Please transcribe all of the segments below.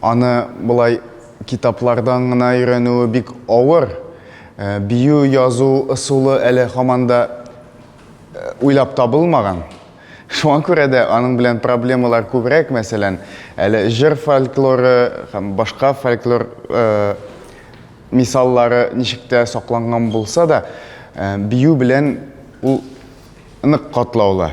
Аны болай китаплардан гына өйрәнүе бик авыр. Э, бию язу ысулы әле һаман да э, уйлап табылмаган. Шуңа күрә дә аның белән проблемалар күбрәк, мәсәлән, әле җыр фольклоры һәм башка фольклор э, мисаллары ничек тә сакланган булса да, э, бию белән ул Нык катлаулы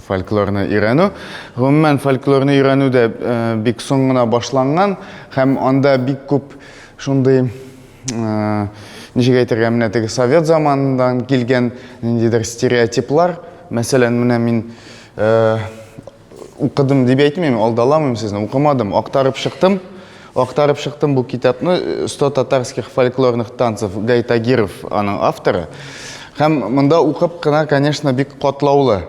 фольклорны өйрәнү. Гомумән, фольклорны өйрәнү дә э, бик соң гына башланган һәм анда бик күп шундый э, ничек әйтергә, менә теге совет заманыннан килгән ниндидер стереотиплар. Мәсәлән, менә мин э, Укыдым дип әйтмим, алдаламыйм сезне, укымадым, актарып чыктым. Актарып чыктым бу китапны 100 татарских фольклорных танцев Гай Тагиров аның авторы. Һәм монда укып кына, конечно, бик катлаулы.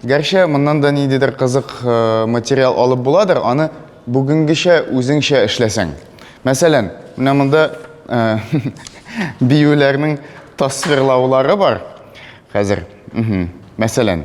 Гәрчә моннан да ниндидер кызык э, материал алып буладыр, аны бүгенгечә үзеңчә эшләсәң. Мәсәлән, менә монда э, биюләрнең тасвирлаулары бар. Хәзер, мәсәлән,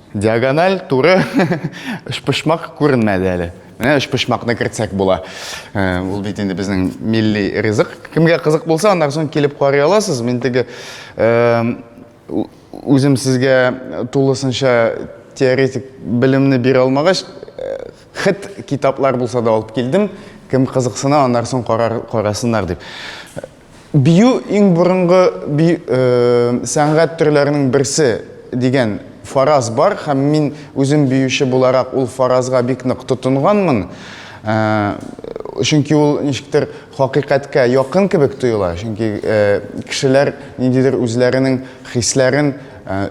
Диагональ, туры, өчпочмак күренмәде әле. Менә өчпочмакны кертсәк була. Э, ул бит инде безнең милли ризык. Кемгә кызык булса, аннан соң килеп карый аласыз. Мин теге э, үзем сезгә тулысынча теоретик белемне бирә алмагач, э, хет китаплар булса да алып килдем. Кем кызыксына, аннан соң карар, карасыннар дип. Бию иң борынгы сәнгать төрләренең берсе дигән фараз бар һәм мин үзем биюче буларак ул фаразга бик нык тотынганмын. Чөнки ул ничектер хакыйкатькә якын кебек тоела, чөнки кешеләр ниндидер үзләренең хисләрен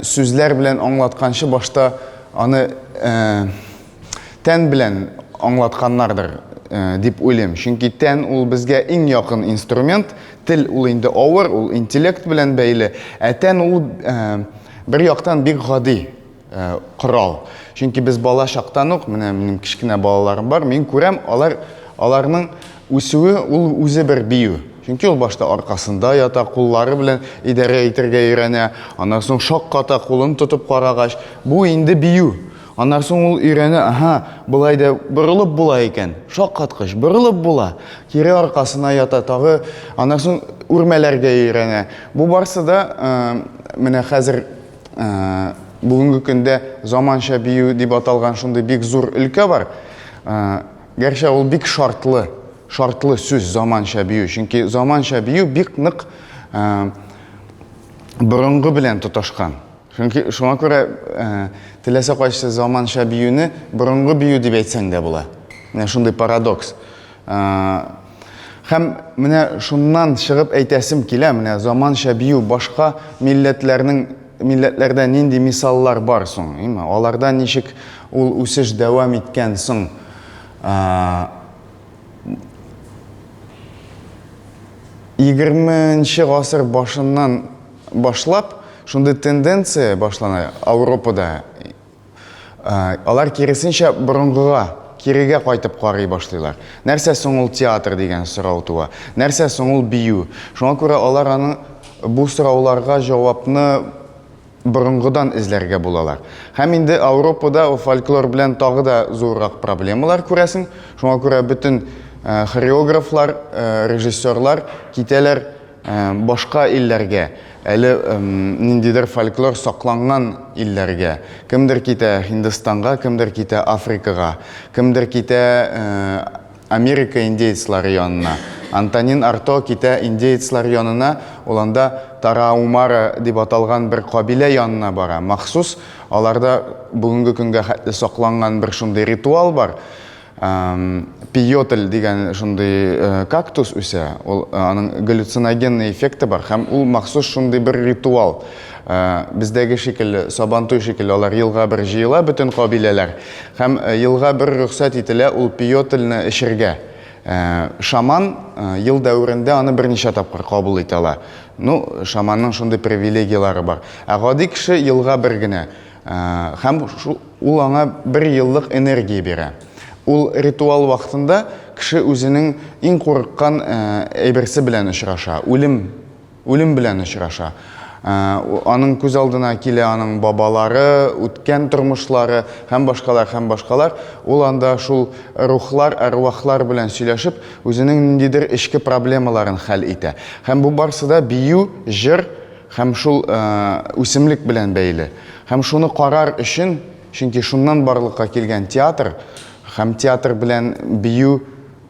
сүзләр белән аңлатканчы башта аны тән белән аңлатканнардыр дип уйлыйм. Чөнки тән ул безгә иң якын инструмент, тел ул инде авыр, ул интеллект белән бәйле, ә тән ул бер яктан бик гади корал. Чөнки без бала чактан ук, менә минем кечкенә балаларым бар, мин күрәм, алар аларның үсүе ул үзе бер бию. Чөнки ул башта аркасында ята, куллары белән идарә итәргә өйрәнә, аннан соң шакката, кулын тотып карагач, бу инде бию. Аннан соң ул өйрәнә, аһа, болай да борылып була икән. Шаккаткыч, борылып була. Кире аркасына ята, тагы аннан соң үрмәләргә өйрәнә. Бу барсы да э, менә хәзер э, бүгенге көндә заманча бию дип аталган шундый бик зур өлкә бар. Э, гәрчә ул бик шартлы, шартлы сүз заманча бию, чөнки заманча бию бик нык э, борынгы белән тоташкан. Чөнки шуңа күрә теләсә кайсы заманча биюне борынгы бию дип әйтсәң дә була. Менә шундый парадокс. Һәм менә шуннан чыгып әйтәсем килә, менә заманча бию башка милләтләрнең милләтләрдә нинди мисаллар бар соң? Име? Аларда ничек ул үсеш дәвам иткән соң? Егерменче гасыр башыннан Башлап шундый тенденция башлана Ауропада. Алар киресенчә борынгыга, кирегә кайтып карый башлыйлар. Нәрсә соң ул театр дигән сорау туа. Нәрсә соң ул бию? Шуңа күрә алар аны бу сорауларга җавапны борынгыдан эзләргә булалар. Һәм инде Ауропада фольклор белән тагы да зуррак проблемалар күрәсең. Шуңа күрә бөтен хореографлар, режиссерлар китәләр Ә башка илләргә, әле ниндидер фольклор сакланган илләргә, кемдер китә Һиндстанга, кемдер китә Африкага, кемдер китә Америка индеецлары янына. Антонин Арто китә индеецлар янына, ул анда Тараумара дип аталган бер кабилә янына бара. Махсус аларда бүгенге көнгә хәтле сакланган бер шундый ритуал бар. пиотель дигән шундый э, кактус үсә ул э, аның галлюциногенный эффекты бар һәм ул махсус шундый бер ритуал э, бездәге шикелле сабантуй шикелле алар елга бер җыела бөтен кабиләләр һәм елга бер рөхсәт ителә ул пиотельне эчергә шаман ел дәверендә аны берничә тапкыр кабул итә ала ну шаманның шундый привилегияләре бар ә гади кеше елга бер генә Һәм ул аңа бер еллык энергия бирә. Ул ритуал вакытында кеше үзенең иң курыккан әйберсе белән очраша, үлем, үлем белән очраша. Аның күз алдына килә аның бабалары, үткән тормышлары һәм башкалар, һәм башкалар. Ул анда шул рухлар, әрвахлар белән сөйләшеп, үзенең ниндидер эчке проблемаларын хәл итә. Һәм бу барсы да бию, җыр, Һәм шул үсемлек белән бәйле. Һәм шуны карар өчен, чөнки шуннан барлыкка килгән театр һәм театр белән бию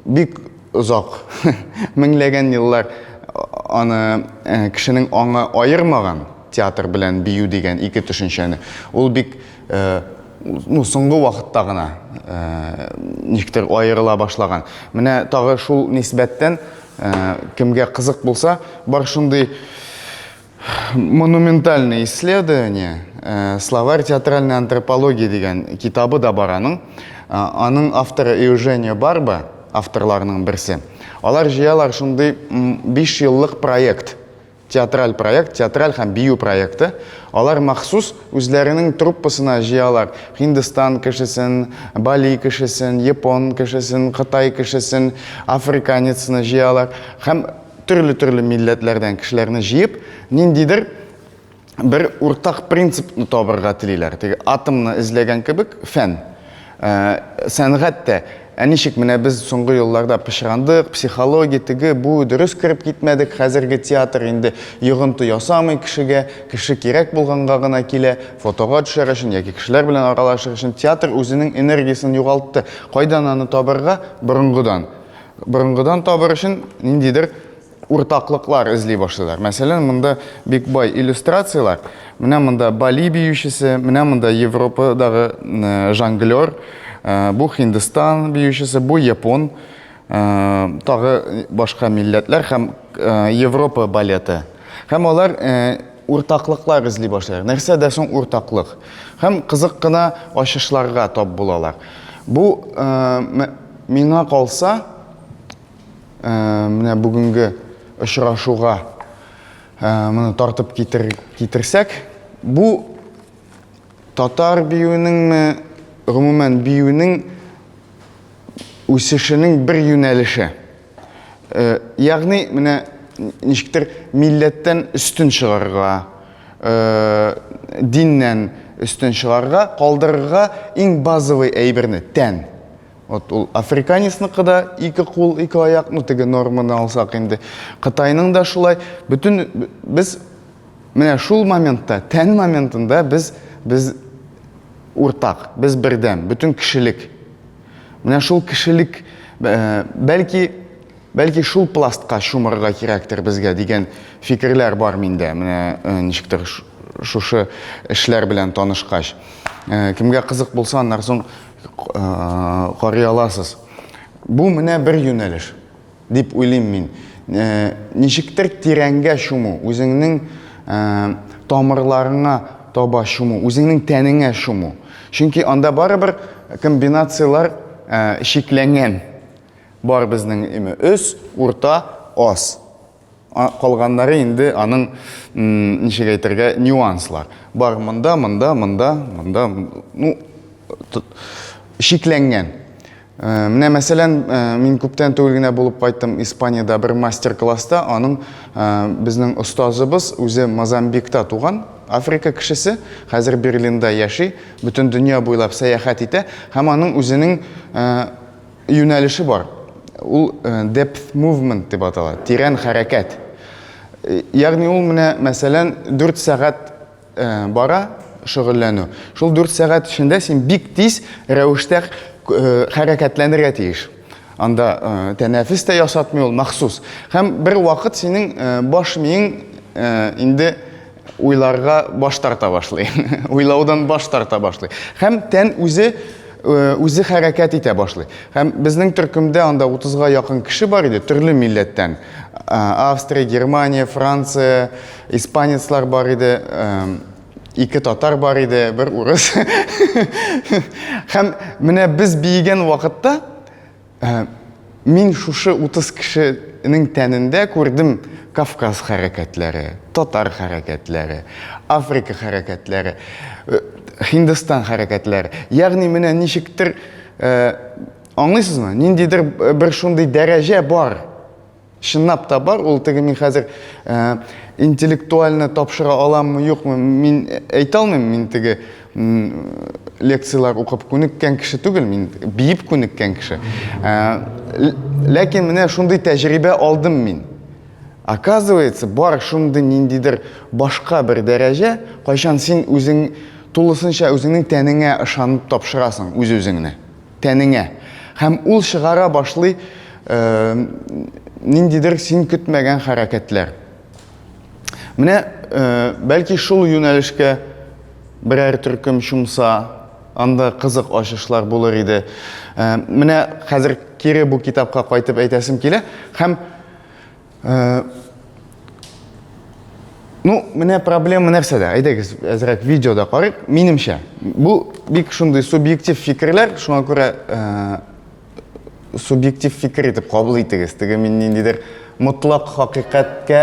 бик озак, меңләгән еллар аны кешенең аңы аермаган, театр белән бию дигән ике төшенчәне. Ул бик ну, соңгы вакытта гына э, ничектер аерыла башлаган. Менә тагы шул нисбәттән э, кемгә кызык булса, бар шундый монументальное исследование э, словарь театральной антропологии дигән китабы да бар аның. Аның авторы Эуженио Барба, авторларының берсе. Алар җыялар шундый 5 еллык проект. Театраль проект, театраль һәм бию проекты. Алар махсус үзләренең труппасына җыялар Һиндстан кешесен, Бали кешесен, япон кешесен, кытай кешесен, африканецны җыялар һәм төрле-төрле милләтләрдән кешеләрне җыеп, ниндидер бер уртак принципны табырга телиләр. Теге атомны эзләгән кебек, фән. Ә, сәнгать тә. Ә ничек менә без соңгы елларда пычрандык, психология, теге, бу, дөрес кереп китмәдек, хәзерге театр инде йогынты ясамый кешегә, кеше кирәк булганга гына килә, фотога төшәр өчен яки кешеләр белән аралашыр өчен. Театр үзенең энергиясен югалтты. Кайдан аны табырга? Борынгыдан. Борынгыдан табыр өчен ниндидер уртаклыклар эзли башлыйлар. Мәсәлән, монда бик бай иллюстрацияләр. Менә монда Бали биючесе, менә монда Европадагы жонглер, бу Һиндстан биючесе, бу япон, тагы башка милләтләр һәм Европа балеты. Һәм алар уртаклыклар эзли башлыйлар. Нәрсә дә соң уртаклык? Һәм кызык кына ачышларга тап булалар. Бу миңа калса, Менә бүгенге очрашуга моны тартып китер, китерсәк, бу татар биюенеңме, гомумән биюнең үсешенең бер юнәлеше. Ягъни, менә ничектер милләттән өстен чыгарга, диннән өстен чыгарга, калдырырга иң базовый әйберне, тән. Вот ул африканецныкы да ике кул, ике аяк, ну теге норманы алсак инде. Кытайның да шулай. Бүтін без менә шул моментта, тән моментында без без уртак, без бердәм, бүтін кешелек. Менә шул кешелек э, бәлки бәлки шул пластка чумырга кирәктер безгә дигән фикерләр бар миндә. Менә э, ничектер шушы эшләр белән танышкач. Э, кемгә кызык булса, аннан соң карый аласыз. Бу менә бер юнәлеш дип уйлыйм мин. Ничектер тирәнгә чуму, үзеңнең тамырларыңа таба чуму, үзеңнең тәнеңә чуму. Чөнки анда барыбер комбинацияләр шикләнгән. Бар безнең өс, урта, аз. Калганнары инде аның, ничек әйтергә, нюанслар. Бар монда, монда, монда, монда, ну, шикләнгән. Э, менә мәсәлән, э, мин күптән түгел генә булып кайттым Испаниядә бер мастер-класста, аның э, безнең остазыбыз үзе Мозамбикта туган, Африка кешесе, хәзер Берлинда яши, бөтен дөнья буйлап сәяхәт итә һәм аның үзенең Юнәлеше бар. Ул depth movement дип атала, тирән хәрәкәт. Ягъни ул менә, мәсәлән, 4 сәгать бара шөгыльләнү. Шул 4 сәгать эчендә син бик тиз рәвештә хәрәкәтләнергә тиеш. Анда тәнәфес тә ясатмый ул, махсус. Һәм бер вакыт синең баш миең инде Уйларга баш тарта башлый. Уйлаудан баш тарта башлый. Һәм тән үзе үзе хәрәкәт итә башлый. Һәм безнең төркемдә анда 30-га якын кеше бар иде, төрле милләттән. Австрия, Германия, Франция, испанецлар бар иде, ике татар бар иде, бер урыс. Һәм менә без биегән вакытта Ә, мин шушы 30 кешенең тәнендә күрдем Кавказ хәрәкәтләре, татар хәрәкәтләре, Африка хәрәкәтләре, э, Һиндстан хәрәкәтләре. Ягъни менә ничектер, э, аңлыйсызмы? Ниндидер бер шундый дәрәҗә бар. Чынлап та бар, ул теге мин хәзер ә, интеллектуальны тапшыра аламмы, юкмы, мин әйтә алмыйм, мин теге лекцияләр укып күнеккән кеше түгел, мин биеп күнеккән кеше. Ә, ләкин менә шундый тәҗрибә алдым мин. Оказывается, бар шундый ниндидер башка бер дәрәҗә, кайчан син үзең тулысынча үзеңнең тәнеңә ышанып тапшырасың үз-үзеңне. тәнеңә. Һәм ул чыгара башлый ниндидер син көтмәгән хәрәкәтләр. Менә, бәлки шул юнәлешкә берәр төркем чумса, анда кызык ачышлар булыр иде. Менә хәзер кире бу китапка кайтып әйтәсем килә. Һәм Э, ну, менә проблема нәрсәдә? Әйдәгез, әзрәк видеода карыйк. Минемчә, бу бик шундый субъектив фикерләр, шуңа күрә э, субъектив фикер итеп кабул итегез. Теге мин ниндидер мотлак хакыйкатькә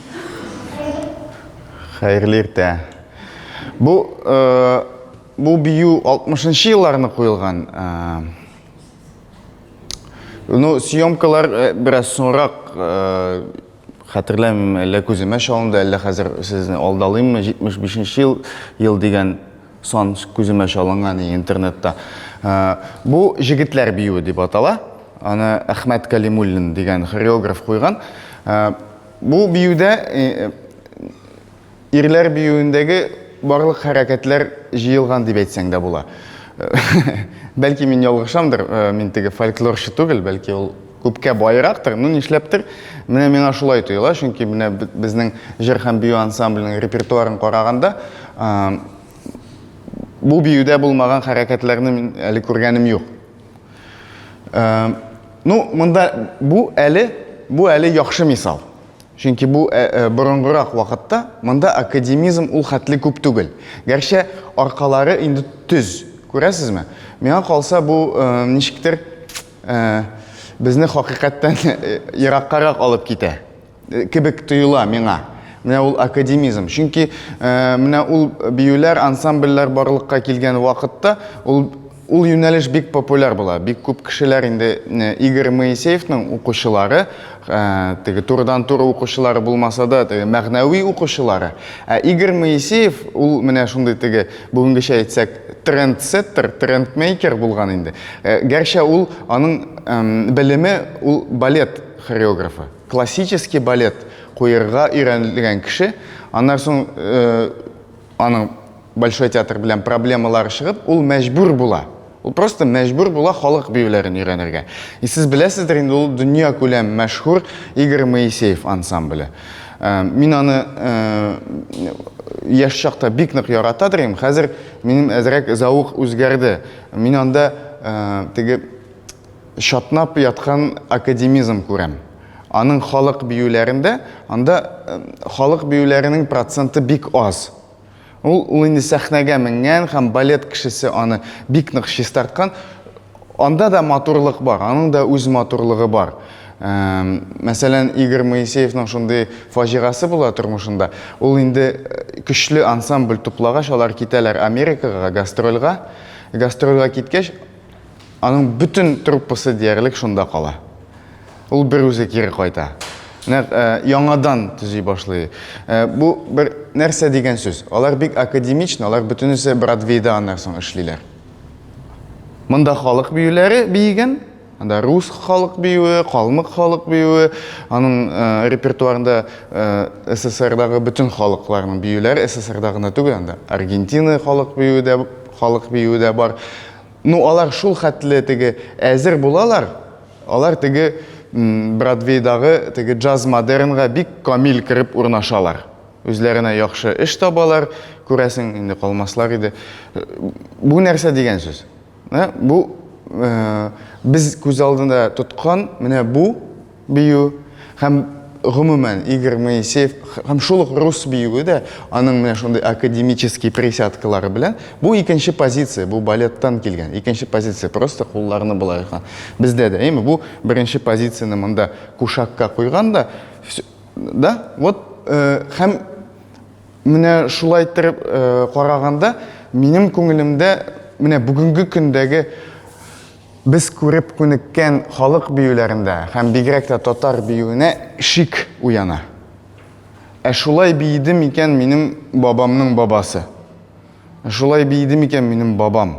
Хәерле иртә. Бу э, бу бию 60-нчы елларны куелган. Э, ну, съемкалар э, бераз соңрак хәтерләмим, әллә күземә чалынды, әллә хәзер сезне алдалыйммы, 75 ел, ел дигән сан күземә чалынган интернетта. Ә, бу җегетләр биюе дип атала. Аны Әхмәт Калимуллин дигән хореограф куйган. Ә, Бу биюдә ирләр биюендәге барлык хәрәкәтләр җыелган дип әйтсәң дә була. Бәлки мин ялгышамдыр, мин теге фольклорчы түгел, бәлки ул күпкә баерактыр, ну нишләптер, менә миңа шулай тоела, чөнки менә безнең җыр һәм бию ансамбленең репертуарын караганда, бу биюдә булмаган хәрәкәтләрне мин әле күргәнем юк. Э, ну, монда бу әле, бу әле яхшы мисал. Чөнки бу э, э, борынгырак вакытта монда академизм ул хәтле күп түгел. Гәрчә аркалары инде төз. Күрәсезме? Миңа калса бу ничектер безне хакыйкатьтән ераккарак алып китә. Э, кебек тоела миңа менә ул академизм чөнки э, менә ул биюләр ансамбльләр барлыкка килгән вакытта ул ул юнәлеш бик популяр була бик күп кешеләр инде э, игорь моисеевның укучылары теге турыдан туры укучылары булмаса да теге мәгънәви укучылары ә игорь моисеев ул менә шундый теге бүгенгечә әйтсәк трендсеттер трендмейкер булган инде гәрчә ул аның белеме ул балет хореографы Классический балет куерга өйрәнелгән кеше, аннан соң аның Большой театр белән проблемалары чыгып, ул мәҗбүр була. Ул просто мәҗбүр була халык биюләрен өйрәнергә. И сез беләсездер инде, ул дөнья күләм мәшһүр Игорь Моисеев ансамбле. Э, мин аны э, яшь чакта бик нык ярата идем. Хәзер минем әзрәк зәвык үзгәрде. Мин анда э, теге Чатнап яткан академизм күрәм. Аның халык биюләрендә, анда халык биюләренең проценты бик аз. Ул, ул инде сәхнәгә менгән һәм балет кешесе аны бик нык чистарткан. Анда да матурлык бар, аның да үз матурлыгы бар. Мәсәлән, Игорь Моисеевның шундый фаҗигасы була тормышында. Ул инде көчле ансамбль туплагач, алар китәләр Америкага гастрольга. Гастрольга киткәч, Аның бөтен труппасы диярлек шунда кала. Ул бер үзе кире кайта. Нәк э, яңадан төзи башлый. Э, бу бер нәрсә дигән сүз. Алар бик академичны, алар бөтенесе Бродвейда аннан соң эшлиләр. Монда халык биюләре биеген, анда рус халык биюе, калмык халык биюе, аның э, репертуарында э, СССРдагы бөтен халыкларның биюләре, СССРда гына түгел, анда Аргентина халык биюе дә Халык биюе дә бар. Ну, алар шул хәтле теге әзер булалар, алар теге Бродвейдагы теге джаз-модернга бик камил кереп урнашалар. Үзләренә яхшы эш табалар, күрәсең, инде калмаслар иде. Бу нәрсә дигән сүз? Ә? Бу э, без күз алдында тоткан менә бу бию һәм гомумән Игорь Моисеев һәм шул ук рус биюе дә аның менә шундый академический присядкалары белән бу икенче позиция, бу балеттан килгән икенче позиция, просто кулларны болай ясаган. Бездә дә, әйме, бу беренче позицияне монда кушакка куйган да, да, вот э, һәм менә шулай иттереп э, караганда минем күңелемдә менә бүгенге көндәге Без күреп күнеккән халык биюләрендә һәм бигрәк тә татар биюенә шик уяна. Ә шулай биеде микән минем бабамның бабасы? Ә шулай биеде микән минем бабам?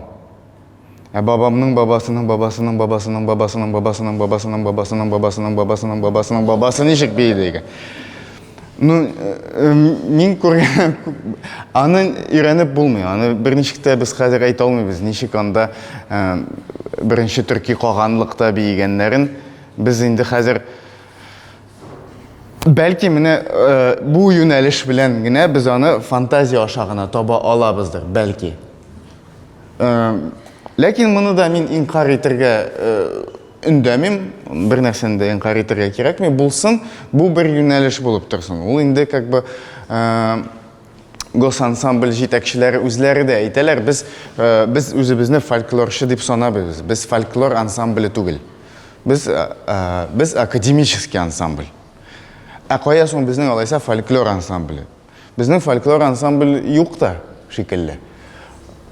Ә бабамның бабасының бабасының бабасының бабасының бабасының бабасының бабасының бабасының бабасының бабасының бабасы ничек биеде икән? Ну, э, мин күргән аны өйрәнеп булмый. Аны берничек тә без хәзер әйтә алмыйбыз, ничек анда э, беренче төрки каганлыкта биегәннәрен. Без инде хәзер бәлки менә э, бу юнәлеш белән генә без аны фантазия аша гына таба алабыздыр, бәлки. Ләкин моны да мин инкар итәргә Өндәмим, бер нәрсәне дә инкарь итәргә кирәкми, булсын, бу бер юнәлеш булып торсын. Ул инде как бы э, госансамбль җитәкчеләре үзләре дә әйтәләр, без э, без үзебезне фольклорчы дип санабыз. Без фольклор ансамбле түгел. Без э, э, без академический ансамбль. Ә кая соң безнең алайса фольклор ансамбле? Безнең фольклор ансамбль юк та шикелле.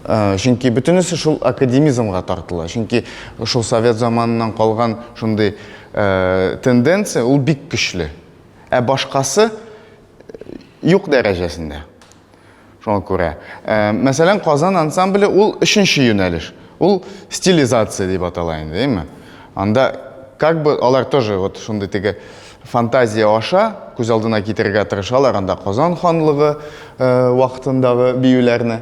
Э, чөнки бөтенесе шул академизмга тартыла. Чөнки шул совет заманынан калган шундый э, тенденция ул бик көчле. Ә башкасы юк дәрәҗәсендә. Шуңа күрә. Мәсәлән, Казан ансамбле ул өченче юнәлеш. Ул стилизация дип атала инде, әйме? Анда как бы алар тоже вот шундый теге фантазия аша күз алдына китерергә тырышалар анда Казан ханлыгы э, вакытындагы биюләрне.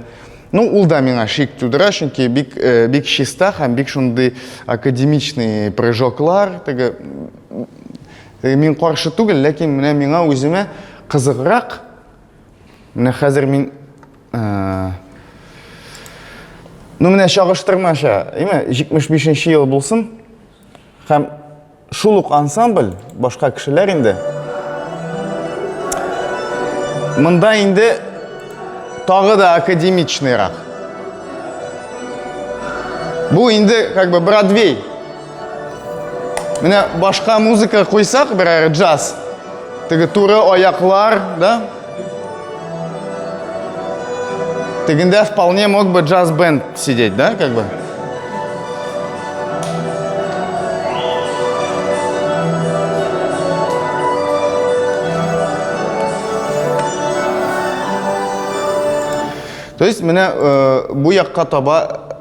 Ну, ул да миңа шик тудыра, чөнки бик э, бик чиста һәм бик шундый академичный прыжоклар, теге э, мин каршы түгел, ләкин менә миңа үземә кызыграк. Менә хәзер мин Ну менә чагыштырмача, әйме, 75 нче ел булсын, һәм шул ук ансамбль, башка кешеләр инде, мында инде тагы да академичныйрак. Бу инде, как бы, Бродвей. Менә башка музыка куйсак, берәр джаз. Теге туры аяклар, да? Тегендә вполне мог бы джаз-бенд сидеть, да, как бы? То есть, менә э, бу якка таба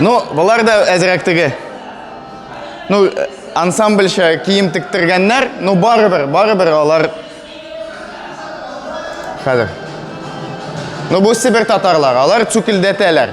Ну, болар да әзерәк теге. Ну, ансамбльча кием тектергәннәр, ну барыбер, барыбер алар хәзер. Ну, бу Себер татарлар, алар цукилдәтәләр.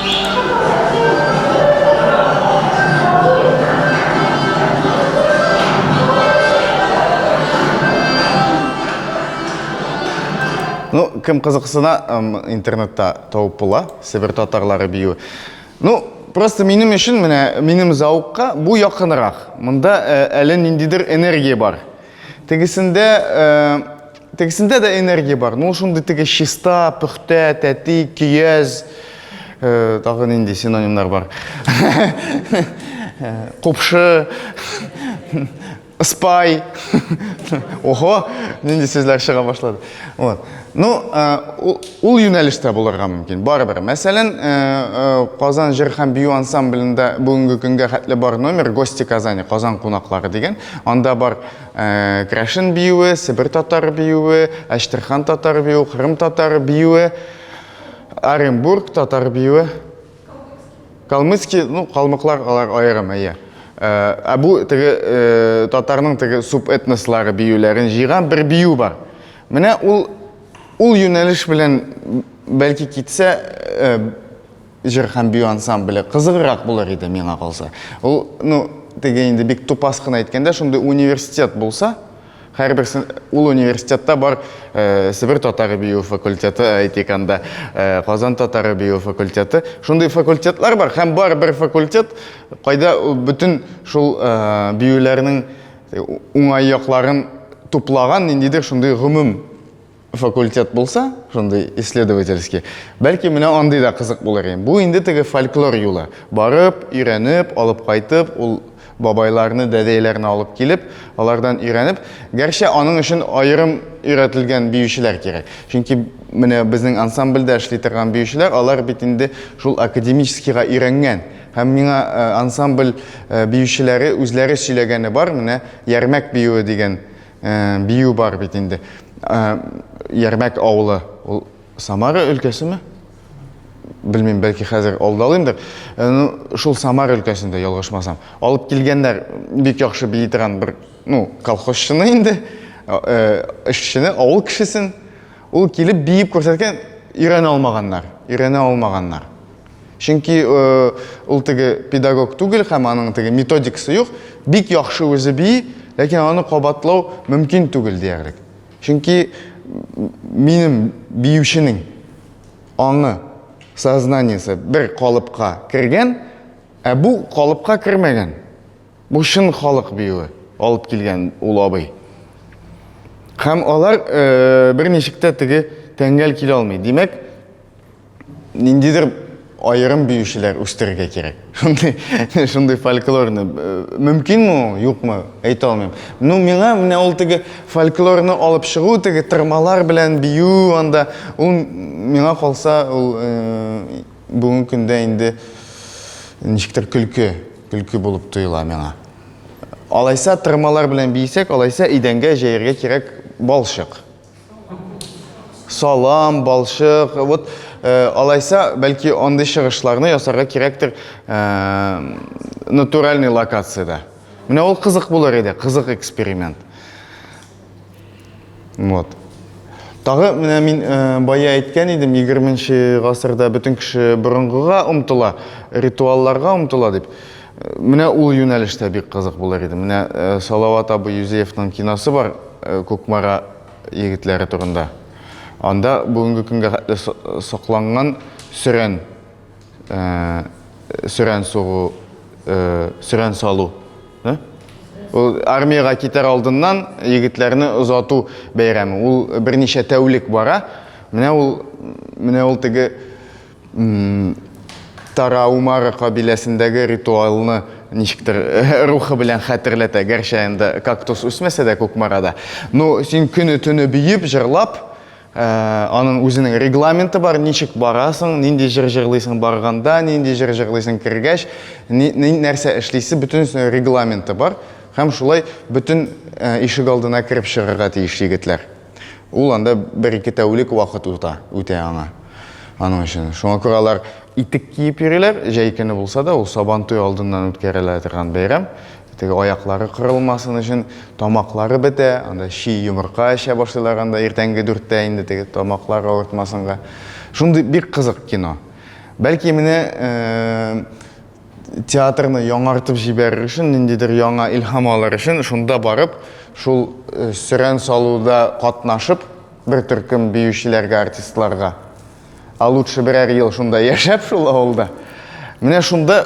Ну, кем кызыксына, интернетта тауып була, Себер татарлары бию. Ну, просто минем өчен менә минем зауыкка бу якынрак. Монда әле ниндидер энергия бар. Тегесендә Тегесендә дә энергия бар. Ну, шундый теге чиста, пөхтә, тәти, көяз, э, тагы нинди синонимнар бар. Купшы, спай. Ого, нинди сүзләр чыга башлады. Вот. Ну, э, ул, ул юнәлештә булырга мөмкин. Барыбер. Мәсәлән, э, э, Казан җыр һәм бию ансамблендә бүгенге көнгә хәтле бар номер Гости Казани, Казан кунаклары дигән. Анда бар Э, Крашин биюе, Себер татар биюе, Әштерхан татар биюе, Кырым татар биюе, Оренбург татар биюе. Калмыцкий, ну, калмыклар алар аерым, әйе. Э, ә бу теге э, татарның теге субэтнослары биюләрен җыйган бер бию бар. Менә ул ул юнәлеш белән бәлки китсә, Җыр һәм бию ансамбле кызыграк булыр иде, миңа калса. Ул, ну, теге инде бик тупас кына әйткәндә, шундый университет булса, һәрбер ул университетта бар э, Себер татары бию факультеты, әйтик анда, э, Казан татары бию факультеты. Шундый факультетлар бар һәм бар бер факультет, кайда бөтен шул э, биюләрнең уңай якларын туплаган ниндидер шундый гомум факультет булса, шундый исследовательский, бәлки менә андый да кызык булыр иде. Бу инде теге фольклор юлы. Барып, өйрәнеп, алып кайтып, ул бабайларны, дәдәйләрне алып килеп, алардан өйрәнеп, гәрчә аның өчен аерым өйрәтелгән биючеләр кирәк. Чөнки менә безнең ансамбльдә эшли торган биючеләр, алар бит инде шул академическийга өйрәнгән. Һәм миңа э, ансамбль э, биючеләре үзләре сөйләгәне бар, менә Ярмәк биюе дигән Э, бию бар бит инде. Э, Ярмәк авылы, ул Самара өлкәсеме? Белмим, бәлки хәзер алдалыймдыр. Э, ну, шул Самара өлкәсендә ялгышмасам. Алып килгәннәр бик яхшы бии торган бер, ну, колхозчыны инде, эшчене, авыл кешесен. Ул килеп биеп күрсәткән, өйрәнә алмаганнар, өйрәнә алмаганнар. Чөнки ул теге педагог түгел һәм аның теге методикасы юк. Бик яхшы үзе бии, ләкин аны кабатлау мөмкин түгел диярлек. Чөнки минем биюченең аңы, сознаниесе бер калыпка кергән, ә бу калыпка кермәгән. Бу чын халык биюе алып килгән ул абый. Һәм алар бер ничек тә теге тәңгәл килә алмый. Димәк, ниндидер аерым биючеләр үстерергә кирәк. Шундый, шундый фольклорны э, мөмкинме ул, юкмы, әйтә алмыйм. Ну, миңа менә ул теге фольклорны алып чыгу, теге тырмалар белән бию анда, ул миңа калса, ул э, бүгенге көндә инде ничектер көлке, көлке булып тоела миңа. Алайса тырмалар белән бийсәк, алайса идәнгә җәяргә кирәк балчык. салам, балчык. Вот э, алайса, бәлки андый чыгышларны ясарга кирәктер э, натуральный локациядә. Менә ул кызык булыр иде, кызык эксперимент. Вот. Тагы менә мин э, бая әйткән идем, 20 нче гасырда бөтен кеше борынгыга омтыла, ритуалларга омтыла дип. Менә ул юнәлеш тә бик кызык булыр иде. Менә Салават абый Юзеевның киносы бар, Кукмара егетләре турында. Анда бүгенге көнгә хәтле сакланган сөрән, сөрән сугу, сөрән салу. Ул армиягә китәр алдыннан егетләрне озату бәйрәме. Ул берничә тәүлек бара. Менә ул, менә ул теге Тараумара кабиләсендәге ритуалны ничектер э, рухы белән хәтерләтә, гәрчә инде кактус үсмәсә дә Кукмарада. Ну, син көне төне биеп, җырлап, э, аның үзенең регламенты бар, ничек барасың, нинди җыр җырлыйсың барганда, нинди җыр җырлыйсың кергәч, нәрсә эшлисе, бөтен регламенты бар. Һәм шулай бөтен э, ишек алдына кереп чыгарга тиеш егетләр. Ул анда бер-ике тәүлек вакыт үтә, үтә аңа. Аның өчен. Шуңа күрә алар итек киеп йөриләр, җәй көне булса да, ул сабантуй алдыннан үткәрелә торган бәйрәм. Теге аяклары кырылмасын өчен тамаклары бетә, анда чи йомырка эчә башлыйлар анда иртәнге дүрттә инде теге тамаклар авыртмасынга. Шундый бик кызык кино. Бәлки менә э, театрны яңартып җибәрер өчен, ниндидер яңа илһам алыр өчен, шунда барып, шул э, сөрән салуда катнашып, бер төркем биючеләргә, артистларга. А лучше берәр ел шунда яшәп шул авылда. Менә шунда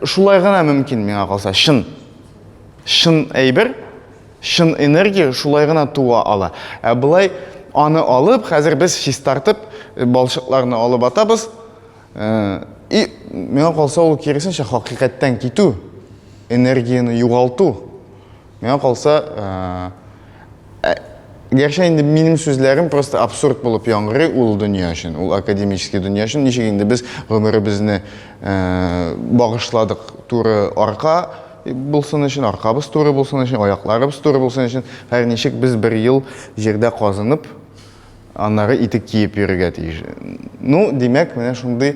шулай гына мөмкин миңа калса. Чын. Чын әйбер, чын энергия шулай гына туа ала. Ә былай аны алып, хәзер без чистартып, э, балчыкларны алып атабыз, И миңа калса ул киресенчә хакыйкаттан китү, энергияне югалту. Миңа калса, ә, гәрчә инде минем сүзләрем просто абсурд булып яңгырый ул дөнья өчен, ул академический дөнья өчен. Ничек инде без гомеребезне багышладык туры арка булсын өчен, аркабыз туры булсын өчен, аякларыбыз туры булсын өчен, һәр ничек без бер ел җирдә казынып, Аннары итек киеп йөрергә тиеш. Ну, димәк, менә шундый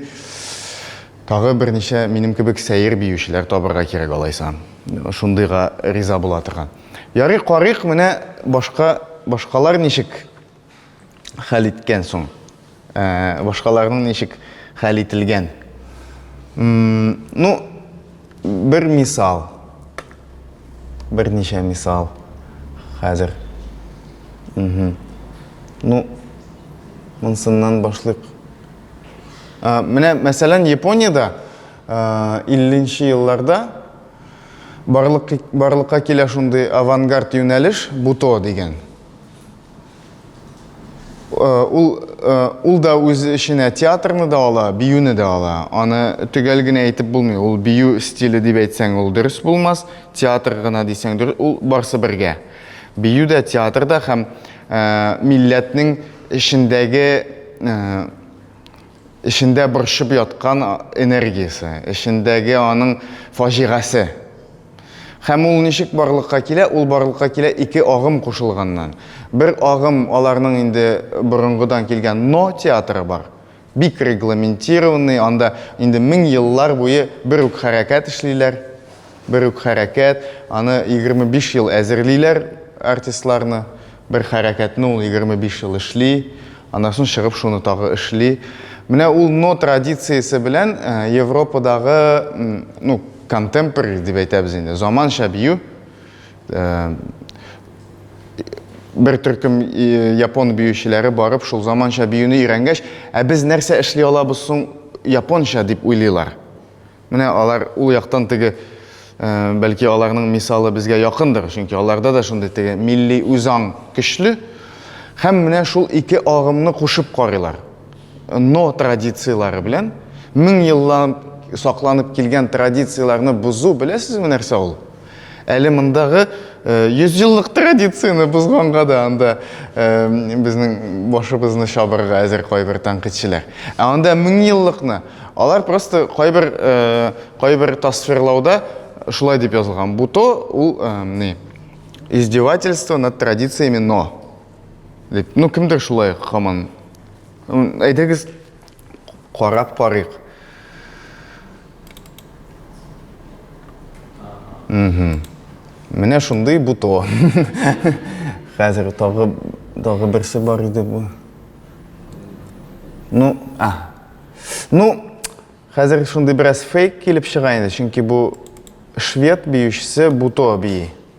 тагы берничә минем кебек сәер биючеләр табырга кирәк алайса. Шундыйга риза була торган. Ярый, карыйк, менә башка башкалар ничек хәл иткән соң? Ә, башкаларның ничек хәл ителгән? Ну, Бер мисал. Берничә мисал. Хәзер. Угу. Ну, монсыннан башлыйк. Ә, менә, мәсәлән, Япониядә 50-нче елларда барлык, барлыкка килә шундый авангард юнәлеш Буто дигән. Э, ул э, ул да үз эченә театрны да ала, биюне дә ала. Аны төгәл генә әйтеп булмый. Ул бию стиле дип әйтсәң, ул дөрес булмас. Театр гына дисәң, дөрес, ул барсы бергә. Бию дә, театр да һәм э, милләтнең эчендәге эчендә борчып яткан энергиясе, эчендәге аның фаҗигасе. Һәм ул ничек барлыкка килә? Ул барлыкка килә ике агым кушылганнан. Бер агым, аларның инде борынгыдан килгән Но театры бар. Бик регламентированный, анда инде мең еллар буе бер үк хәрәкәт эшлиләр. Бер үк хәрәкәт, аны егерме биш ел әзерлиләр артистларны. Бер хәрәкәтне ул егерме биш ел эшли, аннан соң чыгып шуны тагы эшли. Менә ул Но традициясе белән Европадагы, ну, контемпори дип әйтәбез инде, заманча бию. Бер төркем япон биючеләре барып, шул заманча биюне өйрәнгәч, ә без нәрсә эшли алабыз соң японча дип уйлыйлар. Менә алар ул яктан теге бәлки аларның мисалы безгә якындыр, чөнки аларда да шундый теге милли үзаң көчле. Һәм менә шул ике агымны кушып карыйлар. но традицияләре белән мең еллап сакланып килгән традицияләрне бозу беләсезме нәрсә ул әле мондагы э, йөз еллык традицияне бозганга да анда э, безнең башыбызны чабырга әзер кайбер тәнкыйтьчеләр ә анда мең еллыкны алар просто кайбер э, кайбер тасвирлауда шулай дип язылган бу то ул не издевательство над традициями но Дип, ну кемдер шулай хаман. Әйдәгез карап карыйк. Угу. Менә шундый бу то. Хәзер тагы тагы берсе бар иде бу. Ну, а. Ну, хәзер шундый бераз фейк килеп чыга инде, чөнки бу швед биючесе Буто бии.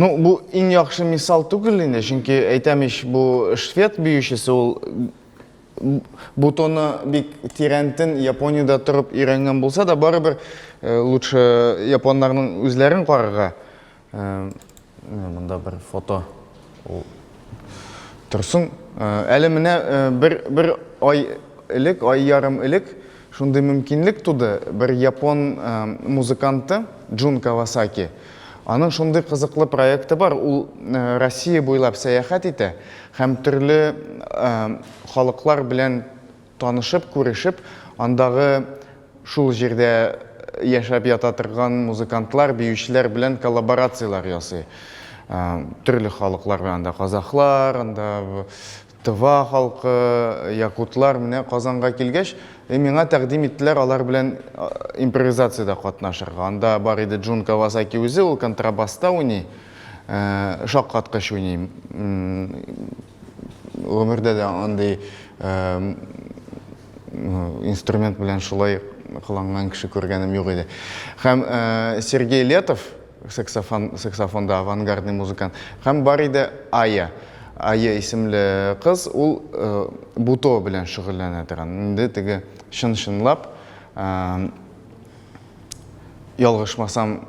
Ну, бу иң яхшы мисал түгел инде, чөнки әйтәм ич, бу швед биючесе ул бутоны бик тирәнтен Япониядә торып өйрәнгән булса да, барыбер э, лучше японнарның үзләрен карарга. Менә монда бер фото. Ул Торсын. Әле менә бер бер ай элек, ай ярым элек шундый мөмкинлек туды. Бер япон музыканты Джун Кавасаки. Аның шундый кызыклы проекты бар. Ул Россия буйлап сәяхәт итә һәм төрле халыклар белән Танышып, күрешеп, андагы шул җирдә яшәп ята торган музыкантлар, биючеләр белән коллаборацияләр ясый. Төрле халыклар белән анда казахлар, анда Тыва халкы, якутлар менә Казанга килгәч, миңа тәкъдим иттеләр алар белән импровизациядә катнашырга. Анда бар иде Джун Кавасаки үзе, ул контрабаста уйный, шаккаткыч уйный. гомердә дә андый инструмент белән шулай кыланган кеше күргәнем юк иде. Һәм Сергей Летов, саксофон, саксофонда авангардный музыкант, һәм бар иде Ая. Ая исемле кыз, ул буто белән шөгыльләнә торган. Инде теге чын-чынлап, ялгышмасам,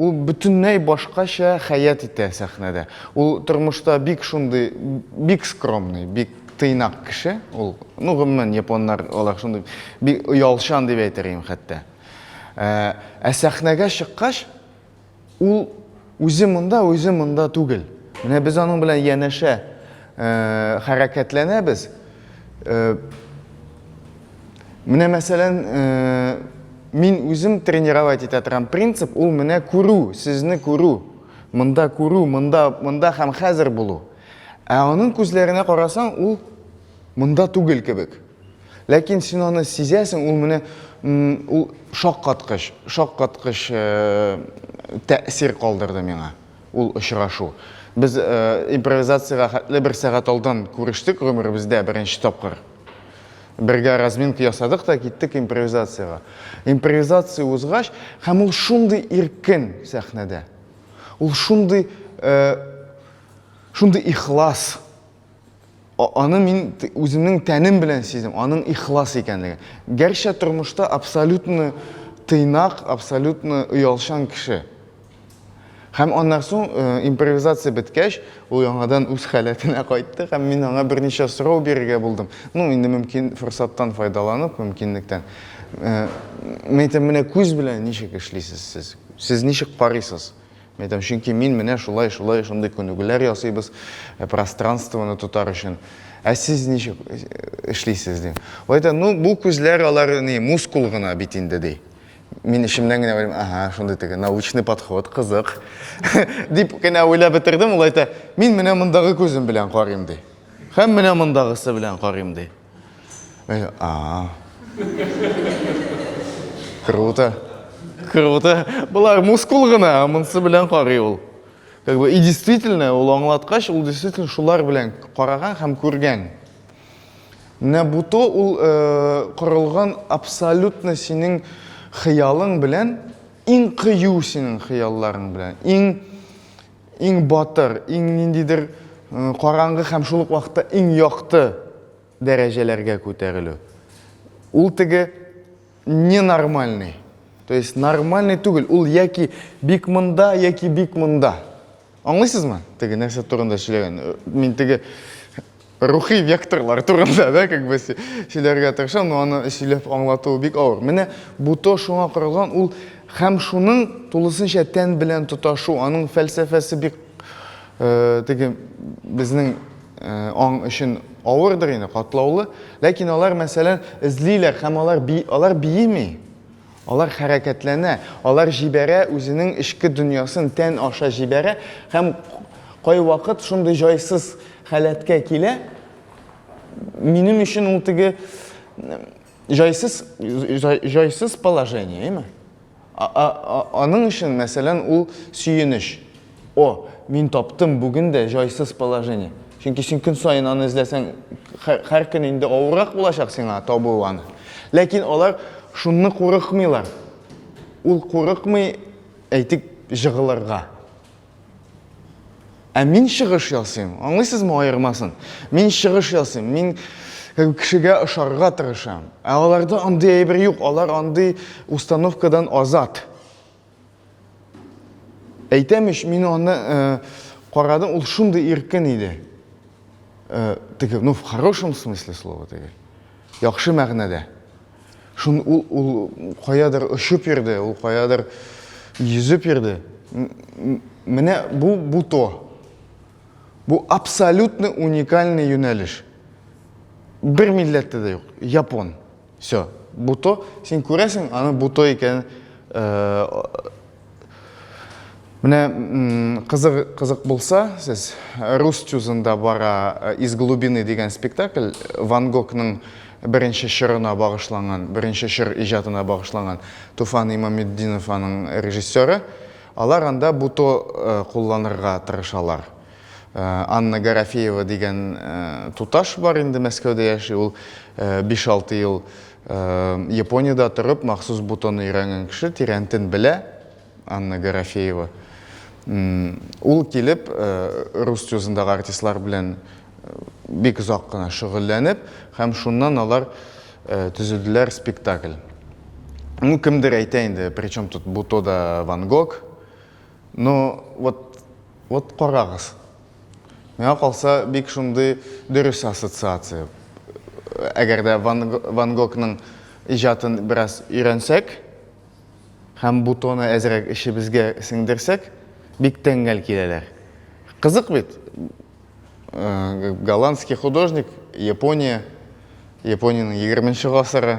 Ул бөтенләй башкача хәят итә сәхнәдә. Ул тормышта бик шундый, бик скромный, бик тыйнак кеше ул. Ну, гомумән, японнар алар шундый, бик оялчан дип әйтер идем хәтта. Ә, ә сәхнәгә чыккач, ул үзе монда, үзе монда түгел. Менә без аның белән янәшә э, хәрәкәтләнәбез. Э, Менә мәсәлән, э, мин үзем тренировать итә торган принцип ул менә күрү, сезне күрү. Монда күрү, монда, монда һәм хәзер булу. Ә аның күзләренә карасаң, ул монда түгел кебек. Ләкин син аны сизәсең, ул менә ул шаккаткыч, шаккаткыч э, тәэсир калдырды миңа ул очрашу. Без э, импровизациягә хәтле бер сәгать алдан күрештек гомеребездә беренче тапкыр. Бергә разминка ясадык та киттек импровизациягә. Импровизация узгач, һәм ул шундый иркен сәхнәдә. Ул шундый э, шундый ихлас. Аны мин үземнең тәнем белән сиздем, аның ихлас икәнлеген. Гәрчә тормышта абсолютно тыйнак, абсолютно оялчан кеше. Һәм аннан соң, э, импровизация беткәч, ул яңадан үз халәтенә кайтты һәм мин аңа берничә сорау бирергә булдым. Ну, инде мөмкин форсаттан файдаланып, мөмкинлектән. Э, мин әйтәм, менә күз белән ничек эшлисез сез? Сез ничек карыйсыз? Мин әйтәм, чөнки мин менә шулай, шулай, шундый күнегүләр ясыйбыз, э, пространствоны тотар өчен. Ә сез ничек эшлисез? Ди. Ул әйтә, ну, бу күзләр алар ни, мускул гына бит инде, ди. Мин эчемнән генә уйлыйм, ага, шундый теге научный подход, кызык. Дип кенә уйлап бетердем, ул әйтә, мин менә мондагы күзем белән карыйм, ди. Һәм менә мондагысы белән карыйм, ди. А. Круто. Круто. Болар мускул гына, монсы белән карый ул. Как бы, и действительно, ул аңлаткач, ул действительно шулар белән караган һәм күргән. Менә бу то ул корылган абсолютно синең хыялың белән, иң кыю синең хыялларың белән, иң иң батыр, иң ниндидер караңгы һәм шул ук вакытта иң якты дәрәҗәләргә күтәрелү. Ул теге ненормальный. То есть нормальный түгел, ул яки бик монда, яки бик монда. Аңлыйсызмы? Теге нәрсә турында сөйләгән. Мин теге рухи векторлар турында, да, как бы сөйләргә тырышам, но аны сөйләп аңлату бик авыр. Менә бу то шуңа корылган, ул һәм шуның тулысынча тән белән тоташу, аның фәлсәфәсе бик э, теге безнең э, аң өчен авырдыр инде, катлаулы, ләкин алар мәсәлән эзлиләр һәм алар би, алар биеми. Алар хәрәкәтләнә, алар җибәрә, үзенең эчке дөньясын тән аша җибәрә һәм кайвакыт шундый җайсыз халәткә килә, минем өчен ул теге җайсыз, җайсыз положение, әйме? Аның өчен, мәсәлән, ул сөенеч. О, мин таптым, бүген дә җайсыз положение. Чөнки син көн саен аны эзләсәң, һәр көн инде авыррак булачак сиңа табу аны. Ләкин алар шунны курыкмыйлар. Ул курыкмый, әйтик, җыгылырга. Ә мин чыгыш ясыйм. Аңлыйсызмы аермасын? Мин чыгыш ясыйм. Мин кешегә ошарга тырышам. Ә аларда андый әйбер юк, алар андый установкадан азат. Әйтәм ич, мин аны э, карадым, ул шундый иркен иде. Э, теге, ну, в хорошем смысле слова теге. Яхшы мәгънәдә. Шун ул, ул каядыр очып йөрде, ул каядыр йөзеп йөрде. Менә бу, бу то. Бу абсолютно уникальный юнәлеш. Бер милләттә дә юк. Япон. Все. Буто, син күрәсең, аны буто икән. Э, Менә кызык кызык булса, сез рус чузында бара э, из глубины дигән спектакль Ван Гогның беренче чорына багышланган, беренче чор иҗатына багышланган Туфан Имаметдинов аның режиссеры. Алар анда буто э, кулланырга тырышалар. Анна Гарафеева дигән туташ бар инде, Мәскәүдә яши ул. Биш-алты ел Япониядә торып, махсус бутон өйрәнгән кеше, Тирәнтен белә, Анна Гарафеева. Ул килеп, рус тюзындагы артистлар белән бик озак кына шөгыльләнеп, һәм шуннан алар төзеделәр спектакль. Ну, кемдер әйтә инде, причем тут бутода Ван Гог? Ну, вот, вот карагыз. Миңа калса, бик шундый дөрес ассоциация. Әгәр дә Ван, Ван Гогның иҗатын бераз өйрәнсәк, һәм бутоны әзрәк эшебезгә сеңдерсәк, бик тәңгәл киләләр. Кызык бит. Э, голландский художник, Япония, Япониянең 20 нче гасыры,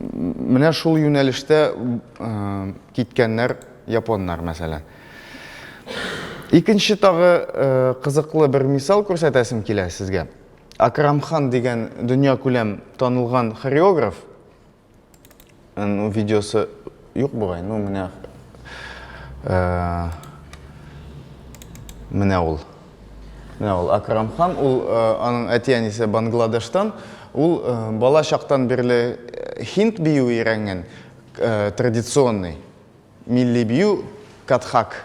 Менә шул юнәлештә киткәннәр японнар, мәсәлән. Икенче тагы кызыклы бер мисал күрсәтәсем килә сезгә. Акрамхан дигән дөнья күләм танылган хореограф, видеосы Юк бугай, ну менә э, менә ул. Менә ул Акрам хан, ул э, аның әти-әнисе Бангладештан, ул э, бала чактан бирле хинд бию өйрәнгән, традиционный милли бию катхак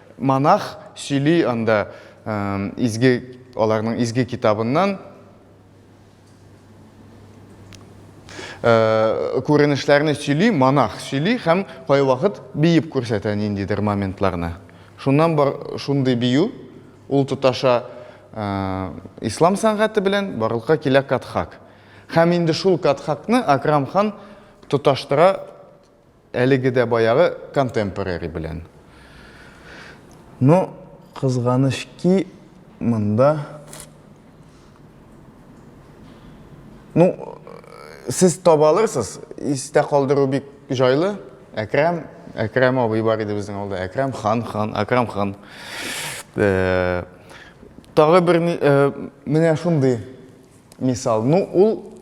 Монах сөйли анда изге, аларның изге китабыннан. Күренешләрне сөйли, монах сөйли һәм кайвакыт биеп күрсәтә ниндидер моментларны. Шуннан бар шундый бию, ул тоташа ислам сәнгате белән барлыкка килә Катхак. Һәм инде шул Катхакны Акрам хан тоташтыра Әлеге дә баягы контемпорари белән. Но кызганыч ки, монда Ну, сез таба алырсыз, истә калдыру бик җайлы. Әкрам, Әкрам абый бар иде безнең алда. Әкрам хан, хан, Акрам хан. Э, тагы бер э, менә шундый мисал. Ну, ул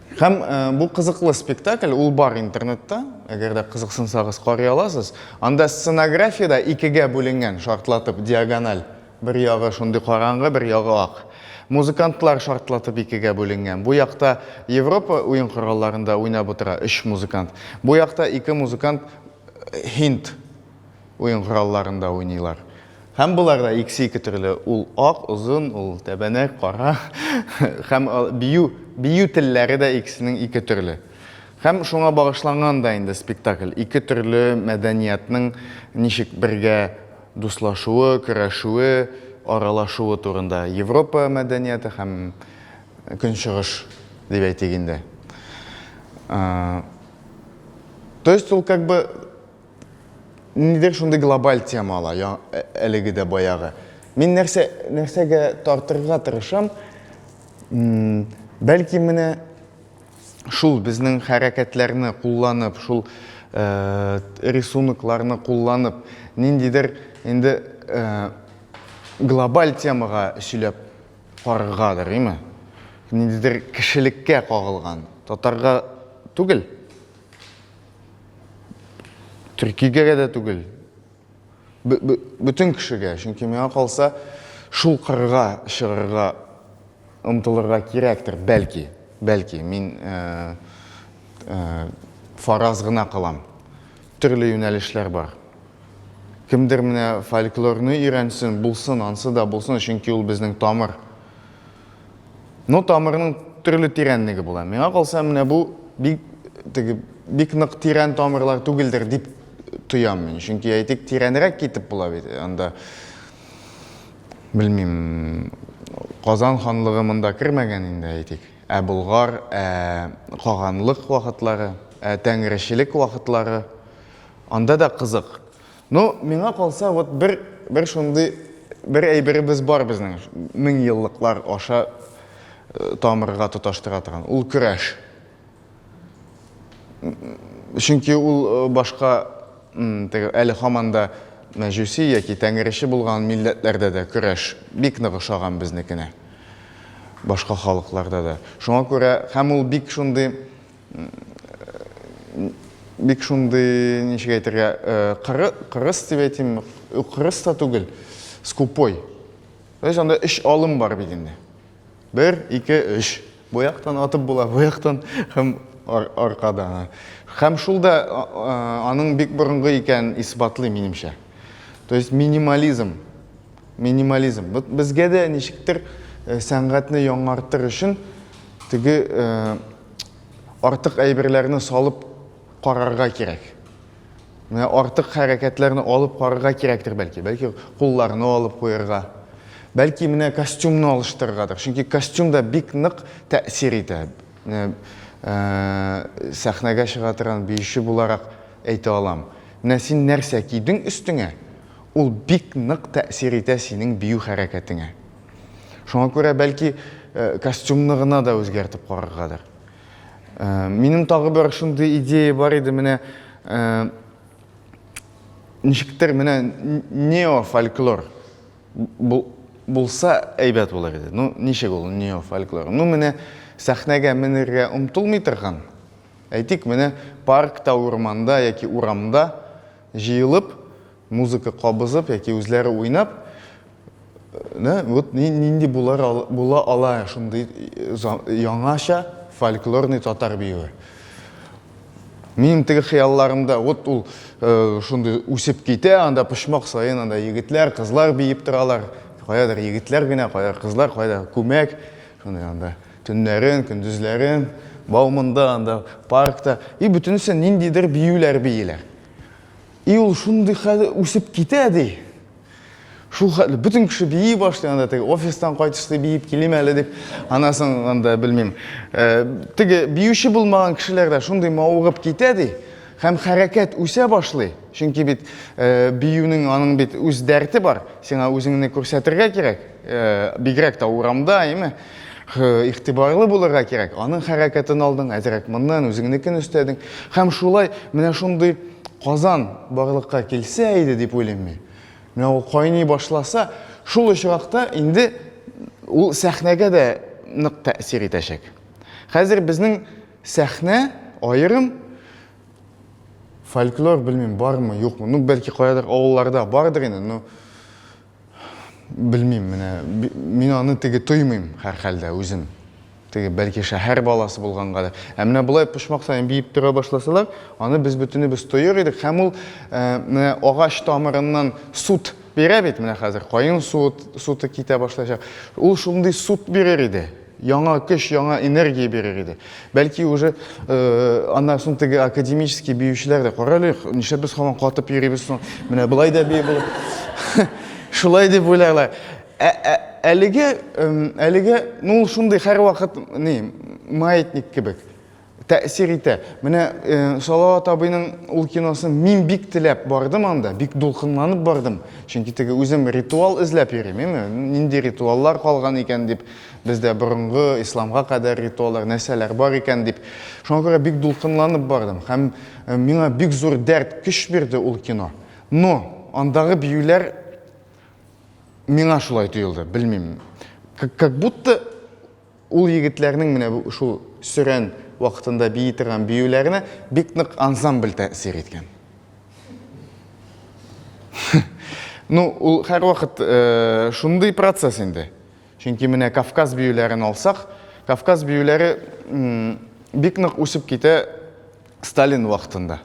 Һәм э, бу кызыклы спектакль, ул бар интернетта, әгәр дә кызыксынсагыз карый аласыз. Анда сценография да икегә бүленгән, шартлатып диагональ. Бер ягы шундый караңгы, бер ягы ак. Музыкантлар шартлатып икегә бүленгән. Бу якта Европа уен коралларында уйнап утыра өч музыкант. Бу якта ике музыкант э, һинд Уен коралларында уйныйлар. Һәм болар да иксе-ике төрле. Ул ак, озын, ул тәбәнәк, кара. Һәм бию, бию телләре дә икесенең ике төрле. Һәм шуңа багышланган да инде спектакль. Ике төрле мәдәниятның ничек бергә дуслашуы, көрәшүе, аралашуы турында. Европа мәдәнияте һәм Көнчыгыш, дип әйтик инде. То есть ул как бы Ниндидер шундый глобаль тема ала, я, ә- әлеге дә баягы. Мин нәрсә, нәрсәгә тартырга тырышам, м, бәлки менә шул безнең хәрәкәтләрне кулланып, шул э, рисункларны кулланып, ниндидер инде э, глобаль темага сөйләп караргадыр, име? Ниндидер кешелеккә кагылган, татарга түгел. Төркигәгә дә түгел. Бөтен кешегә, чөнки миңа калса, шул кырга чыгарга омтылырга кирәктер, бәлки, бәлки, мин э, э, фараз гына кылам. Төрле юнәлешләр бар. Кемдер менә фольклорны өйрәнсен, булсын, ансы да булсын, чөнки ул безнең тамыр. Ну, тамырның төрле тирәнлеге була. Миңа калса, менә бу бик теге бик нык тирән тамырлар түгелдер дип тоям мин. Чөнки әйтик, тирәнрәк китеп була бит. Анда белмим, Казан ханлыгы монда кермәгән инде әйтик. Ә Болгар, ә Каганлык вакытлары, ә Тәңречелек вакытлары анда да кызык. Ну, миңа калса, вот бер, бер шундый, бер әйберебез бар безнең, мең еллыклар аша э, тамырга тоташтыра торган, ул көрәш. Чөнки ул э, башка, теге, әле хаманда мәҗүси яки тәңрече булган милләтләрдә дә көрәш бик нык ошаган безнекенә. Башка халыкларда да. Шуңа күрә, һәм ул бик шундый бик шундый, ничек әйтергә, кыры, кырыс дип әйтим, кырыс та түгел, скупой. То есть анда өч алым бар бит инде. Бер, ике, өч. Бу яктан атып була, бу яктан һәм ар аркада. Һәм шул да аның бик борынгы икән исбатлый минемчә. То есть минимализм. Минимализм. Безгә дә ничектер сәнгатьне яңартыр өчен теге артык әйберләрне салып карарга кирәк. Менә артык хәрәкәтләрне алып карарга кирәктер бәлки. Бәлки кулларны алып куярга. Бәлки менә костюмны алыштырыргадыр. Чөнки костюм да бик нык тәэсир итә. Менә э, сәхнәгә чыга торган биюче буларак әйтә алам. Менә син нәрсә кидең өстеңә, ул бик нык тәэсир итә синең бию хәрәкәтеңә. Шуңа күрә бәлки костюмны гына да үзгәртеп караргадыр. Минем тагы бер шундый идея бар иде, менә ничектер менә неофольклор булса әйбәт булыр иде. Ну, ничек ул неофольклор? Ну, менә сәхнәгә менергә омтылмый торган, әйтик, менә паркта, урманда яки урамда җыелып, Музыка кабызып яки үзләре уйнап, нэ, вот ни, нинди булар, була ала шундый яңача фольклорный татар биюе. Минем теге хыялларымда вот ул э, шундый үсеп китә, анда почмак саен анда егетләр, кызлар биеп торалар. Каядыр егетләр генә, каядыр кызлар, каядыр күмәк. Шундый анда төннәрен, көндезләрен, баумында, анда паркта. И бөтенесе ниндидер биюләр биеләр. И ул шундый хәзер үсеп китә ди. Шул хәтле бөтен кеше бии башлый анда теге офистан кайтышты биеп килим әле дип анасын анда белмим. Э, теге биюче булмаган кешеләр дә шундый мавыгып китә ди һәм хәрәкәт үсә башлый. Чөнки бит э, биюнең аның бит үз дәрте бар. Сиңа үзеңне күрсәтергә кирәк. Бигрәк тә урамда, әйме? Игътибарлы булырга кирәк. Аның хәрәкәтен алдың, әзрәк моннан үзеңнекен өстәдең. Һәм шулай менә шундый Казан барлыкка килсә иде дип уйлыйм мин. Менә ул кайный башласа, шул очракта инде ул сәхнәгә дә нык тәэсир итәчәк. Хәзер безнең сәхнә аерым фольклор белмим бармы, юкмы. Ну, бәлки каядыр авылларда бардыр инде, но Белмим, менә мин аны теге тоймыйм һәр хәлдә үзем. Теге бәлки шәһәр баласы булганга да. Ә менә болай почмак саен биеп тора башласалар, аны без бөтенебез тоер идек һәм ул э, менә агач тамырыннан сут бирә бит менә хәзер каен суыт, суты китә башлачак. Ул шундый сут бирер иде. яңа көч, яңа энергия бирер иде. Бәлки уже э, аннан соң теге академический биючеләр дә карале, нишләп без һаман катып йөрибез соң, менә былай да бии булып. Шулай дип уйларлар. Ә, ә, әлеге, әлеге, ну, шундый һәрвакыт, не, маятник кебек. Тәэсир итә. Менә э, Салават абыйның ул киносын мин бик теләп бардым анда, бик дулкынланып бардым. Чөнки теге үзем ритуал эзләп йөрим, эме? Нинди ритуаллар калган икән дип, бездә борынгы исламга кадәр ритуаллар, нәрсәләр бар икән дип. Шуңа күрә бик дулкынланып бардым һәм э, миңа бик зур дәрт, көч бирде ул кино. Но андагы биюләр миңа шулай тоелды, белмим. Как будто Ул егетләрнең менә бу шул сөрән вакытында бии торган биюләренә бик нык ансамбль тәэсир иткән. Ну, ул һәрвакыт э, шундый процесс инде. Чөнки менә Кавказ биюләрен алсак, Кавказ биюләре бик нык үсеп китә Сталин вакытында.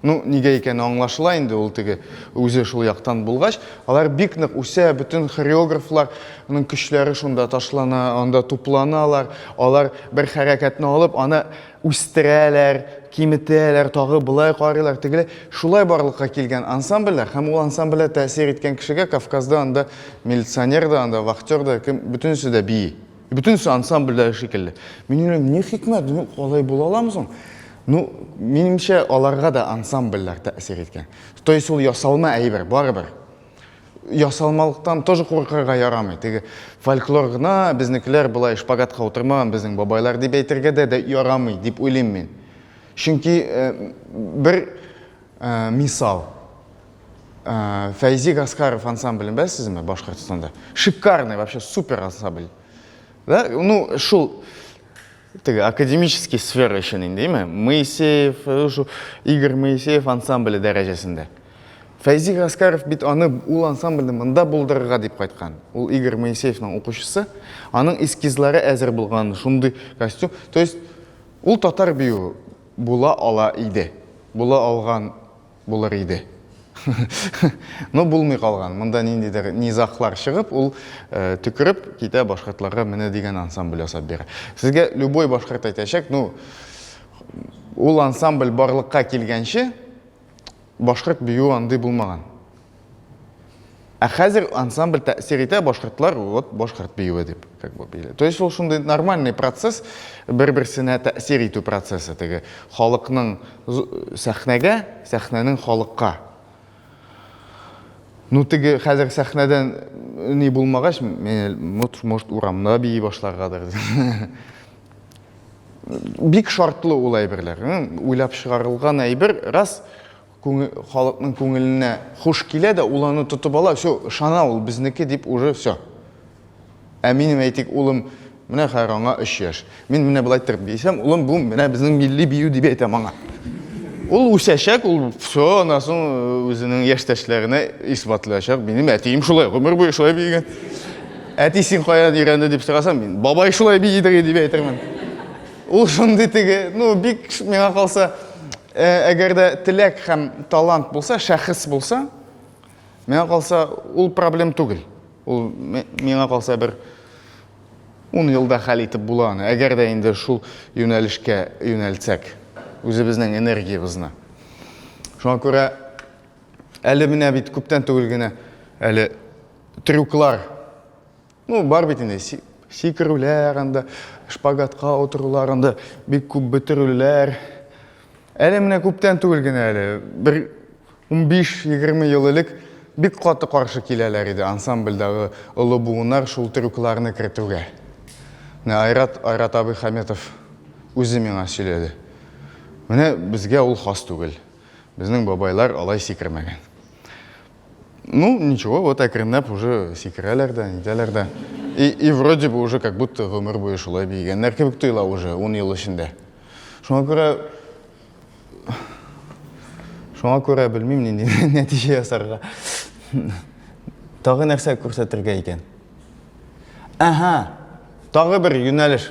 Ну, нигә икәне аңлашыла инде, ул теге үзе шул яктан булгач, алар бик нык үсә, бөтен хореографларның көчләре шунда ташлана, анда тупланалар, алар бер хәрәкәтне алып, аны үстерәләр, киметәләр, тагы былай карыйлар, тегеләй. Шулай барлыкка килгән ансамбльләр һәм ул ансамбльләр тәэсир иткән кешегә Кавказда анда милиционер да, анда вахтер да, кем, бөтенесе дә бии. Бөтенесе ансамбльдәге шикелле. Мин уйлыйм, ни хикмәт, ну, алай була аламы соң? Ну, минемчә, аларга да ансамбльләр тәэсир иткән. То есть ул ясалма әйбер, барыбер. Ясалмалыктан тоже куркырга ярамый. Теге фольклор гына, безнекеләр болай шпагатка утырмаган безнең бабайлар дип әйтергә дә, дә ярамый, дип уйлыйм мин. Чөнки э, бер э, мисал, Фәйзи Гаскаров ансамблен беләсезме Башкортстанда? Шикарный, вообще супер ансамбль. Да? Ну, шул теге академический сфера өчен инде, димме? Моисеев, э, шул Игорь Моисеев ансамбле дәрәҗәсендә. Фәйзи Гаскаров бит аны ул ансамбльне монда булдырырга дип кайткан. Ул Игорь Моисеевның укучысы, аның эскизлары әзер булган, шундый костюм. То есть ул татар бию була ала иде. Була алган Булыр иде. Но булмый калган. Монда ниндидер низахлар чыгып, ул төкереп китә башкортларга менә дигән ансамбль ясап бирә. Сезгә любой башкорт әйтәчәк, ну ул ансамбль барлыкка килгәнче башкорт биюе андый булмаган. Ә хәзер ансамбль тәэсир итә, башкортлар вот башкорт биюе дип как бы били. То есть ул шундый нормальный процесс, бер-берсенә тәэсир итү процессы теге халыкның сәхнәгә, сәхнәнең халыкка. Ну теге хәзер сәхнәдән ни булмагач, может урамда бии башларгадыр. Бик шартлы ул әйберләр. Уйлап чыгарылган әйбер, раз Күңел, халыкның күңеленә хуш килә дә, ул аны тотып ала, всё, ышана ул, безнеке дип уже всё. Ә минем, әйтик, улым, менә хәер аңа өч яшь. Мин менә болай иттереп биисәм, улым, бу менә безнең милли бию дип әйтәм аңа. Ул үсәчәк, ул всё, аннан соң үзенең яшьтәшләренә исбатлаячак, минем әтием шулай, гомер буе шулай биегән. Әти, син каян өйрәнде дип сораса, мин, бабай шулай биидеги дип әйтермен. Ул шундый теге, ну, бик, миңа калса, Ә, әгәр дә теләк һәм талант булса, шәхес булса, миңа калса, ул проблем түгел. Ул миңа калса бер ун елда хәл итеп була аны, әгәр дә инде шул юнәлешкә юнәлтсәк үзебезнең энергиябезне. Шуңа күрә әле менә бит күптән түгел генә әле трюклар Ну, бар бит инде сикерүләр анда, шпагатка утырулар анда, бик күп бөтерүләр. Әле менә күптән түгел генә әле, бер 15-20 ел элек бик каты каршы киләләр иде ансамбльдагы олы буыннар шул трюкларны кертүгә. Менә Айрат, Айрат абый Хаметов үзе миңа сөйләде. Менә безгә ул хас түгел. Безнең бабайлар алай сикермәгән. Ну, ничего, вот әкренләп уже сикерәләр дә, нитәләр дә. И, и вроде бы уже как будто гомер буе шулай биегәннәр кебек тоела уже 10 ел эчендә. Шуңа күрә Шуңа күрә белмим нинди нәтиҗә ясарга. Тагы нәрсә күрсәтергә икән? Әһә. Тагы бер юнәлеш.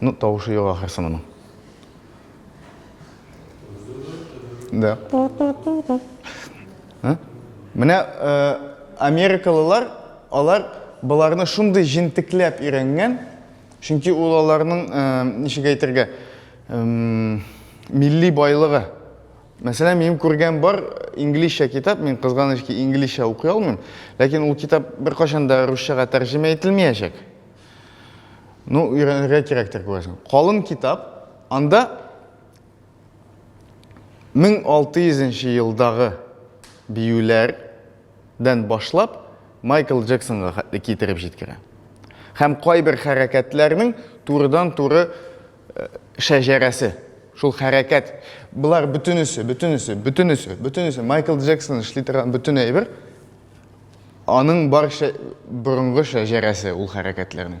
Ну, тавышы юк ахырсы моның. Да. Ә? Менә э, америкалылар, алар боларны шундый җентекләп өйрәнгән, чөнки ул аларның, э, ничек әйтергә, э, милли байлыгы. Мәсәлән, минем күргән бар инглизчә китап, мин кызганыч ки инглизчә укый алмыйм, ләкин ул китап беркайчан да русчага тәрҗемә ителмәячәк. Ну, өйрәнергә кирәктер күрәсең. Калын китап, анда 1600 елдагы биюләрдән башлап Майкл Джексонга хәтле китереп җиткерә. Һәм кайбер хәрәкәтләрнең турыдан-туры шәҗәрәсе, шул хәрәкәт, болар бөтенесе, бөтенесе, бөтенесе, бөтенесе, Майкл Джексон эшли торган бөтен әйбер, аның бар шә, борынгы шәҗәрәсе ул хәрәкәтләрнең.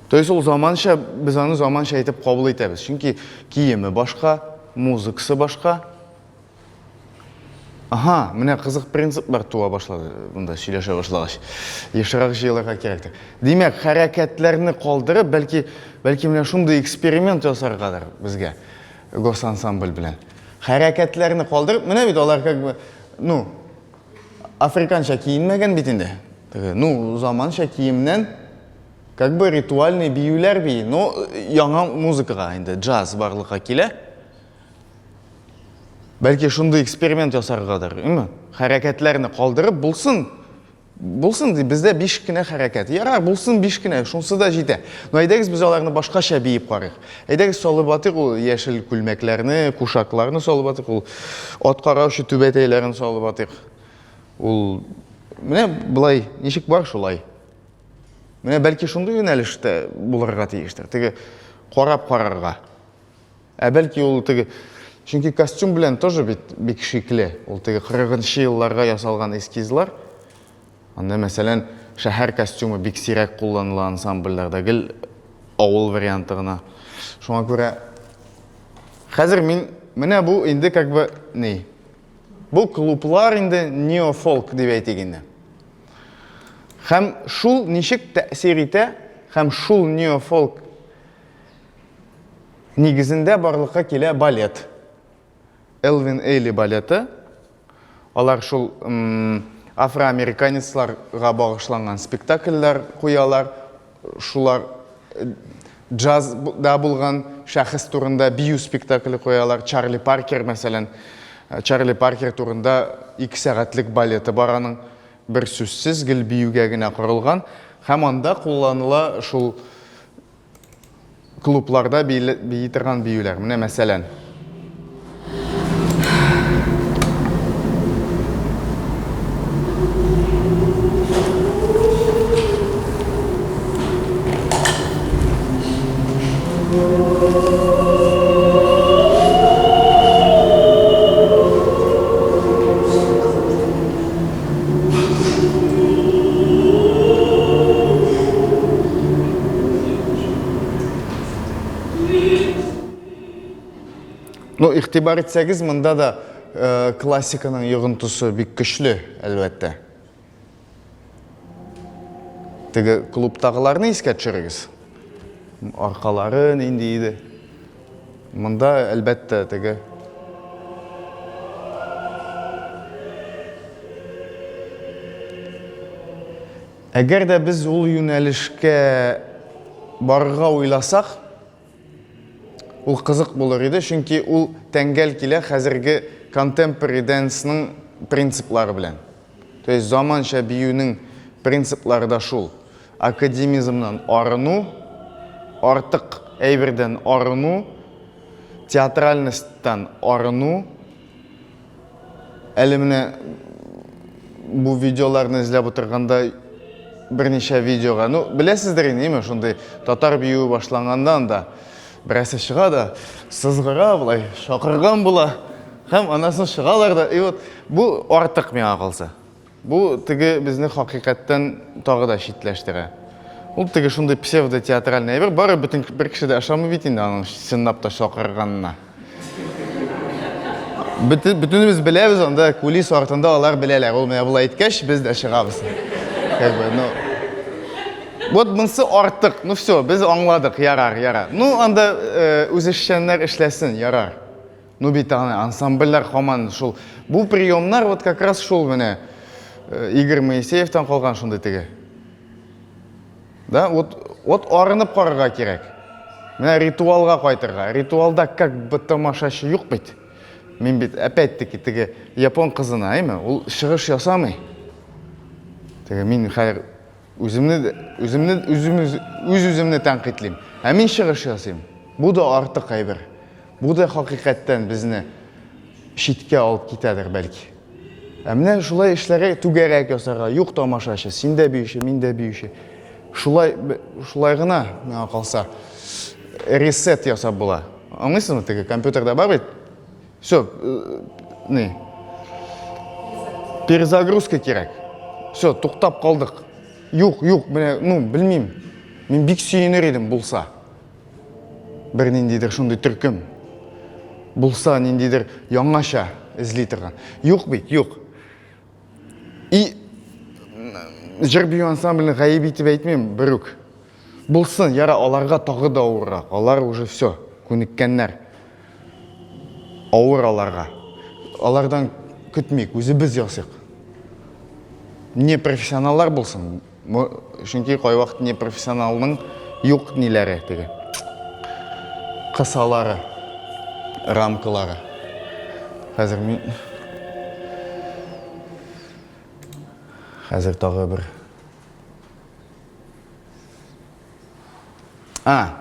То есть ул заманча, без аны заманча итеп кабул итәбез. Чөнки киеме башка, музыкасы башка, Aha, менә кызык принциплар туа башлады монда сөйләшә башлагач. Ешрак җыелырга кирәктер. Димәк, хәрәкәтләрне калдырып, бәлки, бәлки менә шундый эксперимент ясаргадыр безгә госансамбль белән. Хәрәкәтләрне калдырып, менә бит алар как бы, ну, африканча киенмәгән бит инде. Ну, заманча киемнән как бы ритуальный биюләр бии, но яңа музыкага инде джаз барлыкка килә. Бәлки шундый эксперимент ясаргадыр, име? Хәрәкәтләрне калдырып булсын. Булсын ди, бездә 5 кенә хәрәкәт. Ярар, булсын 5 кенә, шунсы да җитә. Но әйдәгез без аларны башкача биеп карыйк. Әйдәгез салып атыйк ул яшел күлмәкләрне, кушакларны салып атыйк, ул ат караучы түбәтәйләрен салып атыйк. Ул менә былай ничек бар шулай. Менә бәлки шундый юнәлештә булырга тиештер. Теге карап карарга. Ә бәлки ул теге Чөнки костюм белән тоже бит бик шикле. Ул теге 40-нчы елларга ясалган эскизлар. Анда, мәсәлән, шәһәр костюмы бик сирәк кулланыла ансамбльләрдә, гел авыл варианты гына. Шуңа күрә хәзер мин менә бу инде как бы ни? Бу клублар инде неофолк дип әйтик инде. Һәм шул ничек тәэсир итә, һәм шул неофолк Нигезендә барлыкка килә балет. Элвин Эйли балеты. Алар шул афроамериканецларга багышланган спектакльләр куялар. Шулар э, джазда булган шәхес турында бию спектакле куялар. Чарли Паркер, мәсәлән, э, Чарли Паркер турында ике сәгатьлек балеты бар аның. Бер сүзсез гел биюгә генә корылган. Һәм анда кулланыла шул клубларда били, бии торган биюләр. Менә мәсәлән. Ну, ихтибар итсәгез, монда да э, классиканың йогынтысы бик көчле, әлбәттә. Теге клубтагыларны искә төшерегез. Аркалары нинди иде? Монда, әлбәттә, теге Әгәр дә без ул юнәлешкә барырга уйласак, ул кызык булыр иде, чөнки ул тәңгәл килә хәзерге контемпори дэнсның принциплары белән. То есть заманча биюнең принциплары да шул. Академизмнан арыну, артык әйбердән арыну, театральностьтан арыну. Әле менә бу видеоларны эзләп утырганда берничә видеога, ну, беләсездер инде, әйме, шундый татар биюе башланганнан да Берәрсе чыга да, сызгыра болай, шакырган була. Һәм анасын чыгалар да, и вот бу артык миңа калса. Бу теге безне хакыйкаттан тагы да читләштерә. Ул теге шундый псевдо-театральный әйбер, бары бөтен бер кеше дә ышамый бит инде аның чынлап та шакырганына. Бөтенебез беләбез, анда кулис артында алар беләләр. Ул менә болай әйткәч, без дә чыгабыз. Как бы, ну, Вот монсы артык. Ну все, без аңладык, ярар, ярар. Ну анда э, үзешчәннәр эшләсен, ярар. Ну бит аны ансамбльләр хаман шул. Бу приемнар вот как раз шул менә э, Игорь Моисеевтан калган шундый теге. Да, вот, вот арынып карарга кирәк. Менә ритуалга кайтырга. Ритуалда как бы тамашачы юк бит. Мин бит опять-таки теге япон кызына, әйме? Ул чыгыш ясамый. Теге мин хәзер үземне үземне үзем үз үземне тәнкыйтьлим. Ә мин чыгыш ясыйм. Бу да артык әйбер. Бу да хакыйкатьтән безне читкә алып китәдер бәлки. Ә менә шулай эшләргә, түгәрәк ясарга, юк тамашачы, син дә биюче, мин дә биюче. Шулай, шулай гына, миңа калса, ресет ясап була. Аңлыйсызмы, теге компьютерда бар бит? Все, э, не, перезагрузка кирәк. Все, туктап калдык. Юк, юк, менә, ну, белмим. Мин бик сөенер идем булса. бер ниндидер шундый төркем булса, ниндидер яңача эзли торган. Юк бит, юк. И җыр бию ансамблен гаеп итеп әйтмим, берүк. Булсын, яра, аларга тагы да авыррак. Алар уже все, күнеккәннәр. Авыр аларга. Алардан көтмик, үзебез ясыйк. Не профессионаллар булсын, Бу чөнки кайвакыт не профессионалның юк ниләре теге. Кысалары, рамкалары. Хәзер мин Хәзер тагы бер А,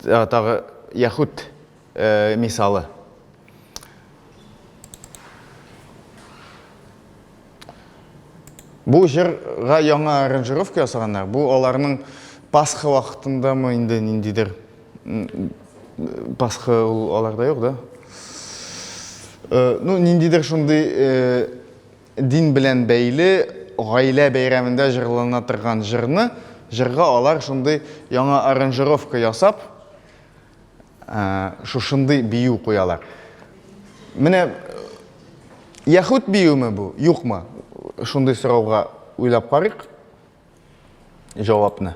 тагы яхут Э, мисалы. Бу җырга яңа аранжировка ясаганнар. Бу аларның Пасха вакытындамы инде ниндидер Пасха ул аларда юк, да? Э, ну, ниндидер шундый э, дин белән бәйле гаилә бәйрәмендә җырлана торган җырны, җырга алар шундый яңа аранжировка ясап, шушындый бию куялар. Менә яхүд биюме бу, юкмы? Шундый сорауга уйлап карыйк җавапны.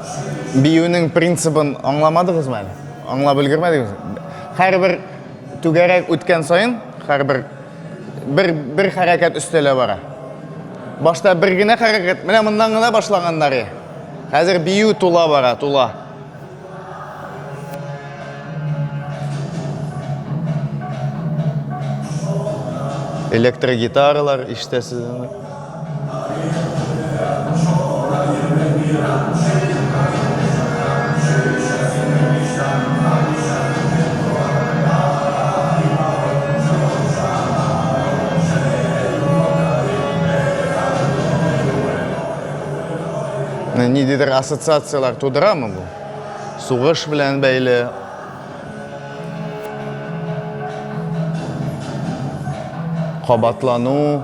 Биюнең принцибын аңламадыгызмы әле? Аңлап өлгермәдегез? Һәрбер түгәрәк үткән саен, һәрбер бер бер хәрәкәт өстәлә бара. Башта бер генә хәрәкәт, менә моннан гына башлаганнар я. Хәзер бию тула бара, тула. Электрогитаралар ишетәсезме? Ниндидер ассоциацияләр тудырамы бу? Сугыш белән бәйле, кабатлану.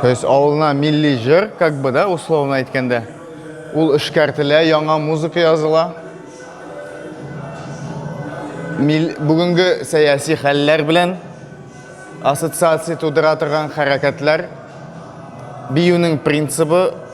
То есть авылына милли җыр, как бы, да, условно әйткәндә, ул эшкәртелә, яңа музыка языла. Мил, бүгенге сәяси хәлләр белән ассоциация тудыра торган хәрәкәтләр, биюнең принцибы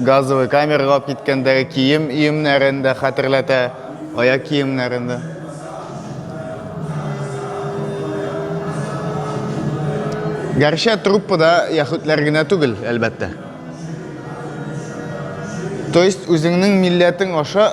Газовый камерага алып киткәндәге кием өемнәрен дә хәтерләтә, аяк киемнәрен дә. Гәрчә труппада яһүдләр генә түгел, әлбәттә. То есть, үзеңнең милләтең аша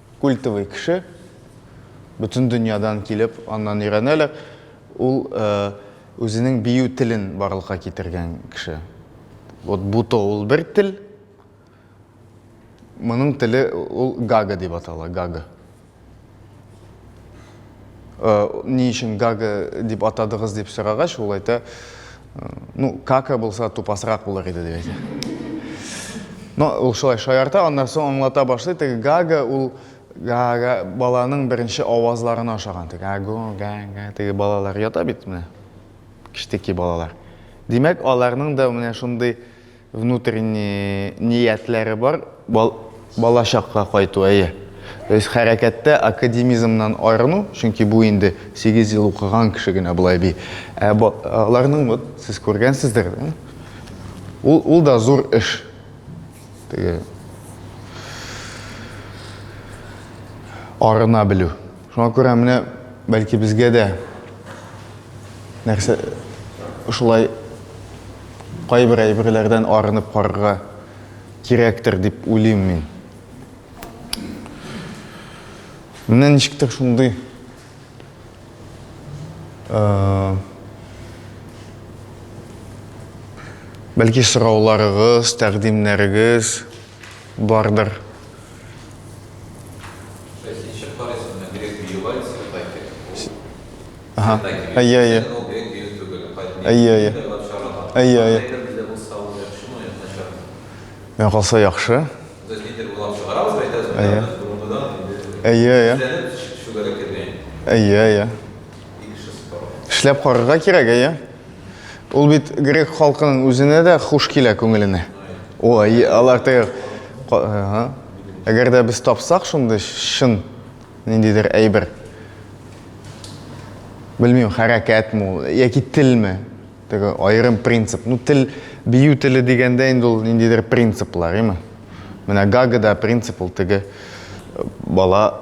культовый кеше, бөтен дөньядан килеп, аннан өйрәнәләр. Ул үзенең бию телен барлыкка китергән кеше. Вот буто ул бер тел. Моның теле ул гага дип атала, гага. Ни өчен гага дип атадыгыз дип сорагач, ул әйтә, ну, кака булса тупасрак булыр иде дип әйтә. Но ул шулай шаярта, аннан соң аңлата башлый, теге гага ул гага баланың беренче авазларына ошаган. Теге аго, гага, теге балалар ята бит менә. Кичтеки балалар. Димәк, аларның да менә шундый Внутренний ниятләре бар. Бал, балачакка кайту, әйе. То есть хәрәкәттә академизмнан аерыну, чөнки бу инде 8 ел укыган кеше генә болай би. Ә бо, аларның вот сез күргәнсездер, да? Ул, ул да зур эш. Теге арына белү. Шуңа күрә менә бәлки безгә дә нәрсә шулай кайбер әйберләрдән арынып карарга кирәктер дип уйлыйм мин. Менә ничектер шундый бәлки сорауларыгыз, тәкъдимнәрегез бардыр. Менә калса яхшы. Әйе, әйе. Әйе, әйе. Эшләп карарга кирәк, әйе. Ул бит грек халкының үзенә дә хуш килә күңеленә. Ой, алар тәгәр. Ага. Әгәр дә без тапсак шундый шын ниндидер әйбер. Белмим, хәрәкәт мо, яки телме? Теге аерым принцип. Ну, тел бию теле дигәндә инде ул ниндидер принциплар, әйме? Менә гагада принцип ул теге бала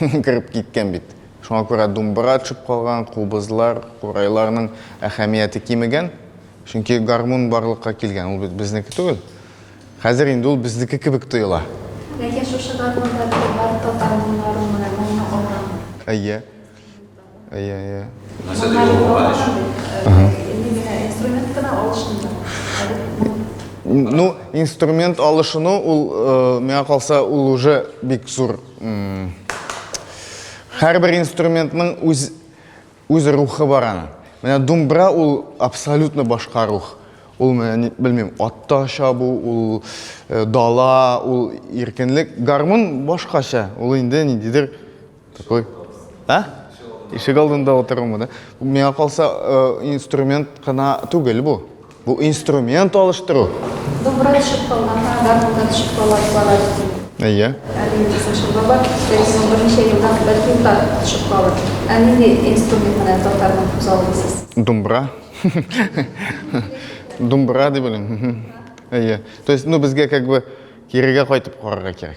кереп киткән бит. Шуңа күрә думбыра төшеп калган, кубызлар, курайларның әһәмияте кимегән. Чөнки гармун барлыкка килгән, ул бит безнеке түгел. Хәзер инде ул безнеке кебек тоела. Ләкин шушы гармунда бит бары татар моңнарын гына, моңны алганмы? Әйе. Әйе, әйе. Ну, инструмент алышыну, ул, э, миңа калса, ул уже бик зур. Һәрбер инструментның үз үз рухы бар аны. Менә думбра ул абсолютно башка рух. Ул менә белмим, атта чабу, ул э, дала, ул иркенлек. Гармун башкача. Ул инде ниндидер Такой. А? Ишек алдында отыруымы, да? Миңа калса, э, инструмент кына түгел бу. Бу инструмент алыштыру. Добрый шыппалар, да, да, шыппалар бар. Әйе. Әлбәттә, шыппалар, бәлки берничә елдан бәлки уда шыппалар. Ә нинди инструмент менән татарның күз алдысыз? Думбра. Думбра дип беләм. Әйе. То есть, ну безгә как бы кирегә кайтып карарга кирәк.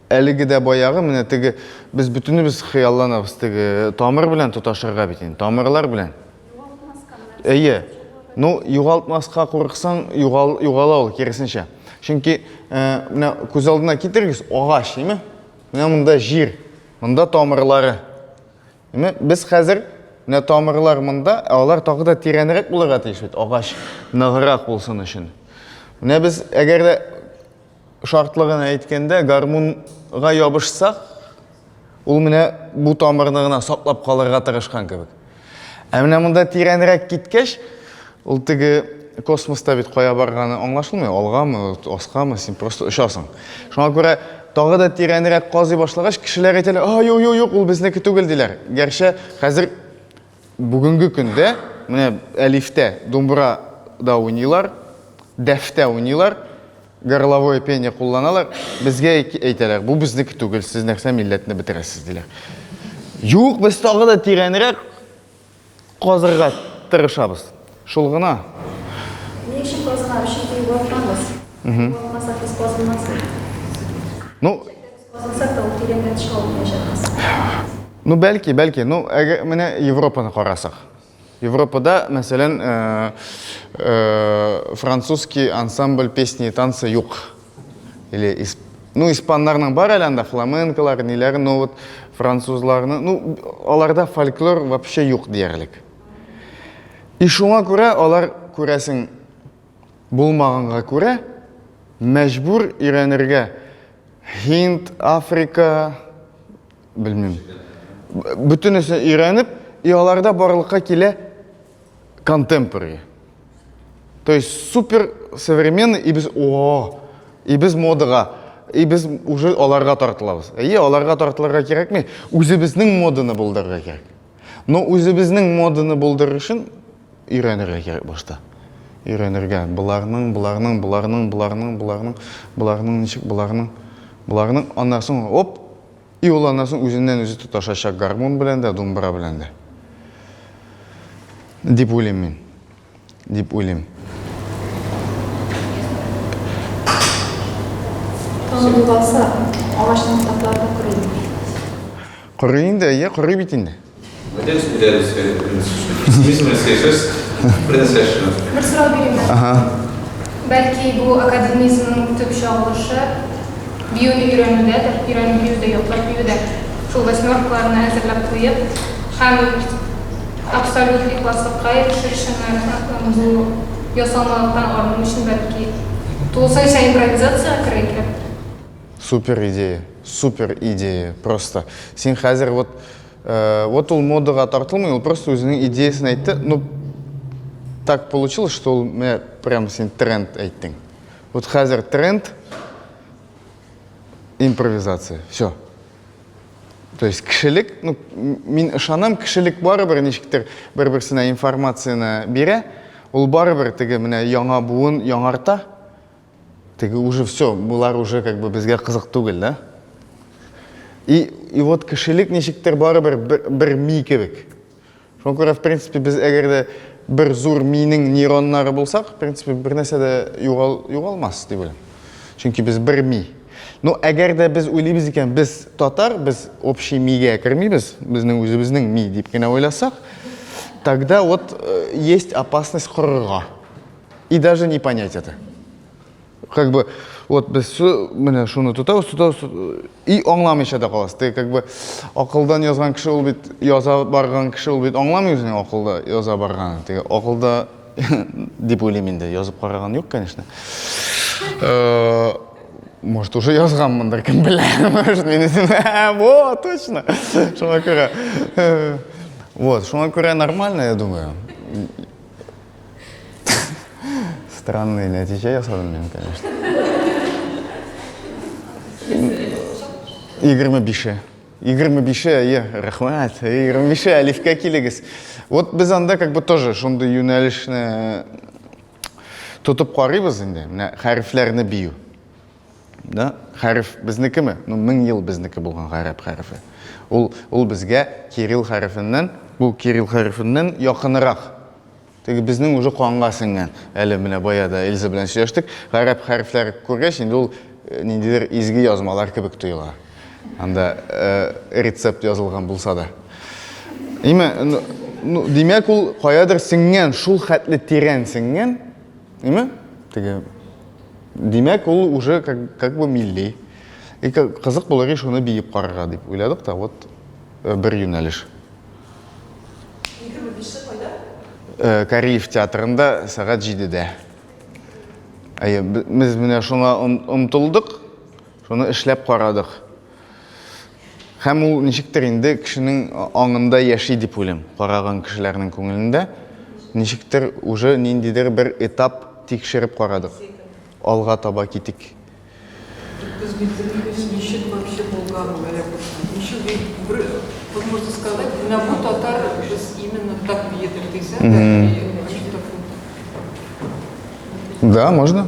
Әлеге дә баягы, менә теге, без бөтенебез хыялланабыз, теге тамыр белән тоташырга бит инде, тамырлар белән. Әйе. Ну, югалтмаска курыксаң, югал, югала ул, кересенчә. Чөнки, э, менә күз алдына китерегез, агач, име? Менә монда җир, монда тамырлары. Име? Без хәзер менә тамырлар монда, ә алар тагы да тирәнрәк булырга тиеш бит, агач ныграк булсын өчен. Менә без әгәр дә Шартлы гына әйткәндә, гармунга ябышсак, ул менә бу тамырны гына саклап калырга тырышкан кебек. Ә менә монда тирәнрәк киткәч, ул теге космоста бит кая барганы аңлашылмый, алгамы, аскамы, син просто очасың. Шуңа күрә тагы да тирәнрәк казый башлагач, кешеләр әйтәләр, а, юк, юк, юк, ул безнеке түгел, диләр. Гәрчә хәзер Бүгенге көндә менә әлифтә думбра да уйныйлар, дәфтә уйныйлар, горловое пение кулланалар. Безгә әйтәләр, бу безнеке түгел, сез нәрсә милләтне бетерәсез диләр. Юк, без тагы да тирәнрәк казырга тырышабыз. Шул гына. Ни өчен казырга? Чөнки югалтмабыз. Югалтмасак, без казылмас. Ну, Казансак та ул тирәнгә төшә алмаячак хәзер. Ну, бәлки, бәлки. Ну, әгә, менә Европаны карасак. Европада, мәсәлән, э, э, французский ансамбль песни и танцы юк. Или исп... Ну, испаннарның бар әле анда фламенколар, ниләр, но вот французларны, ну, аларда фольклор вообще юк диярлек. И шуңа күрә алар күрәсең булмаганга күрә, мәҗбүр өйрәнергә Һинд, Африка, белмим. Бөтенесе өйрәнеп, и аларда барлыкка килә контемпори. То есть супер современный и без о, и без модага, и без уже аларга тартылабыз. И аларга тартылырга кирәкми, үзебезнең моданы булдырырга кирәк. Но үзебезнең моданы булдырыр өчен өйрәнергә кирәк башта. Өйрәнергә. Боларның, боларның, боларның, боларның, боларның, боларның ничек, боларның, боларның. Аннан соң, оп, и ул аннан соң үзеннән үзе тоташачак гармун белән дә, думбра белән дә. Дип уйлыйм мин. дип уйлыйм. Тагын булгаса, агачның ботаклары да корыймы? Корый инде, әйе, корый бит инде. Әйдәгез, бирәбез Бер сорау бирим. Ага. Бәлки бу академизмның төп чагылышы биюне өйрәнүдәдер, өйрәнеп биюдә, яклап биюдә. Шул восьмеркаларны әзерләп куеп, һәм Абсолют ихласлыкка ирешер өчен бу ясалмалыктан арыну өчен бәлки тулысынча импровизациягә керә икән? Супер идея, супер идея просто. Син хәзер вот, вот ул модага тартылмый, ул просто үзенең идеясын әйтте, ну так получилось, что ул менә прям син тренд әйттең. Вот хәзер тренд, импровизация, всё. То есть кешелек, ну, мин ышанам, кешелек барыбер ничектер бер-берсенә информацияне бирә, ул барыбер теге менә яңа буын яңарта, теге уже все, болар уже как бы безгә кызык түгел, да? И, и вот кешелек ничектер барыбер бер, бер ми кебек. Шуңа күрә, в принципе, без әгәр дә бер зур миенең нейроннары булсак, в принципе, бер нәрсә дә югал, югалмас дип уйлыйм. Чөнки без бер ми. Ну, әгәр дә без уйлыйбыз икән, без татар, без общий мигә кермибез, безнең үзебезнең ми дип кенә уйласак, тогда вот э, есть опасность корырга. И даже не понять это. как бы вот без менә шуны тотабыз тотабыз и аңламыйча да каласыз теге как бы акылдан язган кеше ул бит яза барган кеше ул бит аңламый үзенең акылда яза барганын теге акылда дип уйлыйм инде язып караган юк конечно э, может уже язганмындыр кем белә может мин үзем во точно шуңа күрә э, вот шуңа күрә нормально я думаю Странный нәтиҗә ясадым мин, конечно. Егерме бише. Егерме бише, әйе, рәхмәт. Егерме бише, әлифкә килегез. Вот без анда как бы тоже шундый юнәлешне тотып карыйбыз инде. Менә хәрефләрне бию. Да, хәреф безнекеме? Ну, мең ел безнеке булган гарәп хәрефе. Ул, ул безгә кирилл хәрефеннән, бу кирилл хәрефеннән якынрак. Теге безнең уже канга сеңгән. Әле менә бая да Эльза белән сөйләштек. Гарәп хәрефләр күргәч, инде ул э, ниндидер изге язмалар кебек тоела. Анда э, рецепт язылган булса да. Име, ну, ну, димәк ул каядыр сеңгән, шул хәтле тирән сеңгән. Име? Теге Димәк, ул уже как, как бы милли. И кызык булыр и шуны биеп карарга дип уйладык та, вот э, бер юнәлеш. Э, Кариев театрында сәгать җидедә. Әйе, без менә шуңа омтылдык, шуны эшләп карадык. Һәм ул ничектер инде кешенең аңында яши дип уйлыйм, караган кешеләрнең күңелендә. Ничектер уже ниндидер бер этап тикшереп карадык. Алга таба китик. Да, можно?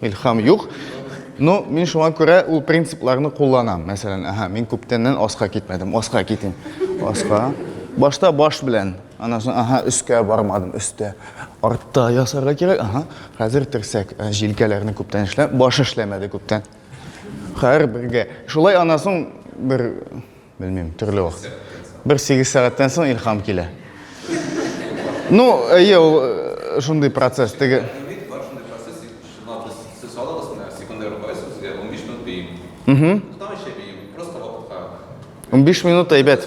Илхам юк. Ну, мин шуңа күрә ул принципларны кулланам. Мәсәлән, аһа, мин күптәннән аска китмәдем. Аска китим. Аска. Башта баш белән, аннан соң аһа, өскә бармадым, өстә. Артта ясарга кирәк. Аһа. Хәзер терсәк, ә, җилкәләрне күптән эшләп, баш эшләмәде күптән. Хәр бергә. Шулай аннан соң бер Белмим, төрле вакыт. Бер сигез сәгатьтән соң илхам килә. Ну, әйе, ул э, шундый процесс. Теге Угу. Там еще бейм, просто вакытка. 15 минут әйбәт.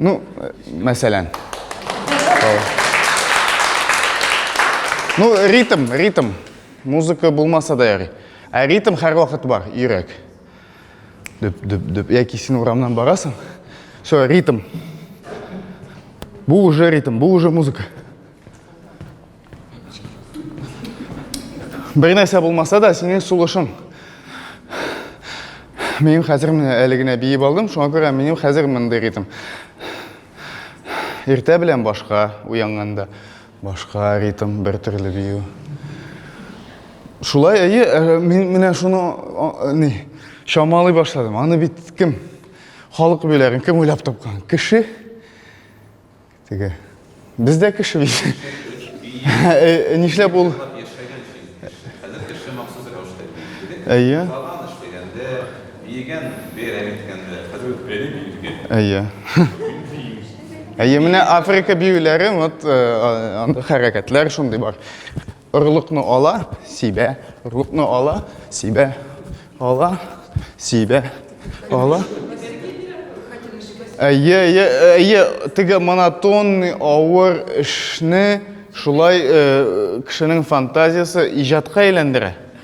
Ну, мәсәлән. Ну, ритм, ритм. Музыка булмаса да ярый. Ә ритм һәр вакыт бар, йөрәк. Дөп, дөп, дөп. Яки син урамнан барасың. Все, ритм. Бу уже ритм, бу уже музыка. Бер нәрсә булмаса да, синең сулышың. Минем хәзер менә әле генә биеп алдым, шуңа күрә минем хәзер мондый ритм. Иртә белән башка, уянганда башка ритм, бер төрле бию. Шулай, әйе, э, мин менә шуны э, ни, чамалый башладым. Аны бит кем? Халык биләрен кем уйлап тапкан? Кеше Теге. Без дә кеше бит. Э, нишләп ул? Әйе. Әйе. Әйе, менә Африка биюләре, вот э, анда хәрәкәтләр шундый бар. Орлыкны ала, сибә, орлыкны ала, сибә, ала, сибә, ала. Әйе, әйе, әйе, теге монотонный авыр эшне шулай э, кешенең фантазиясе иҗатка әйләндерә.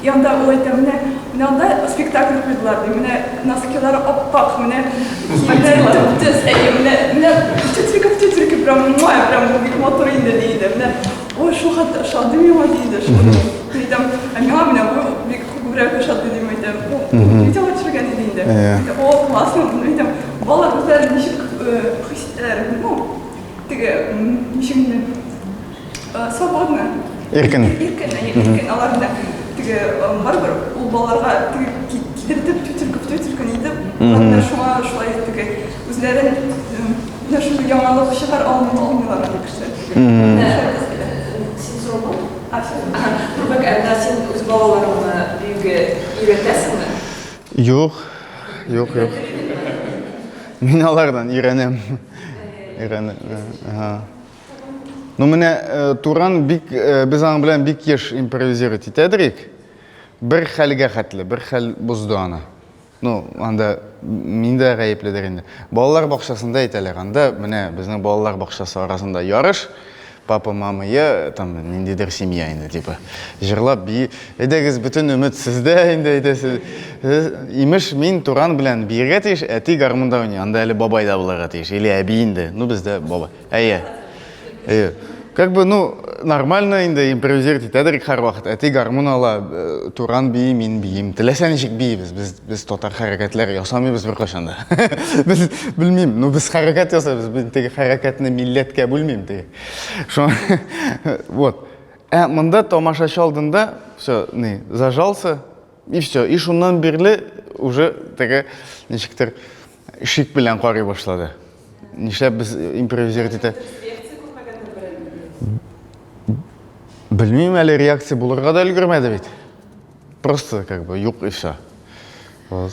Янда ул әйтә, менә, менә анда спектакль куйдылар, ди, менә носкилары ап-ак, менә киемнәре төп-төз, әйе, менә, менә тютелька, тютелька, прям, муа, прям бик матур инде, ди иде, менә, ой, шул хәтта ошады миңа, ди иде, шул, мин әйтәм, ә миңа менә бу бик күбрәк ошады, дим, әйтәм, бу видеога төшергән иде инде, әйтә, о, классно, мин әйтәм, балалар үзләре ничек хис итәләр, ну, теге, ничек инде. Э, свободно. Иркен. Иркен, әйе, иркен. Алар да теге э, барыбер ул балаларга теге кидертеп, тютелька в тютелька нитеп, алар шуңа шулай теге үзләрен менә шундый яңалык чыгар алмый алмыйлар ул кеше. Син сорау А, Турбак, ә син үз балаларыңны биюгә өйрәтәсеңме? Юк, юк, юк. Мин алардан өйрәнәм. Өйрәнәм. Ну менә э, Туран бик э, без аның белән бик еш импровизировать итәдерик. Бер хәлгә хәтле, бер хәл бозды аны. Ну, анда мин дә гаепледер инде. Балалар бакчасында әйтәләр, анда менә безнең балалар бакчасы арасында ярыш папа мама я там ниндидер семья инде типа жырлап би әйдәгез бөтен өмет сездә инде әйдәсез имеш мин туран белән биергә тиеш әти гармунда уйный анда әле бабай да булырга тиеш или әби инде ну бездә бабай Әйе. Әйе. Как бы, ну, нормально инде импровизировать итәдер һәрвакыт. Әти гармун ала, э, туран бии, мин биим. Теләсә ничек биибез. Без без татар хәрәкәтләр ясамыйбыз беркайчан да. Без белмим, ну без хәрәкәт ясабыз, мин теге хәрәкәтне милләткә бүлмим теге. Шо вот. Ә монда тамашачы алдында все, не, зажался, И все, и шуннан бирле уже теге ничектер шик белән карый башлады. Нишләп без импровизировать итә? Белмим әле реакция булырга да өлгермәде бит. Просто как бы юк и все. Вот.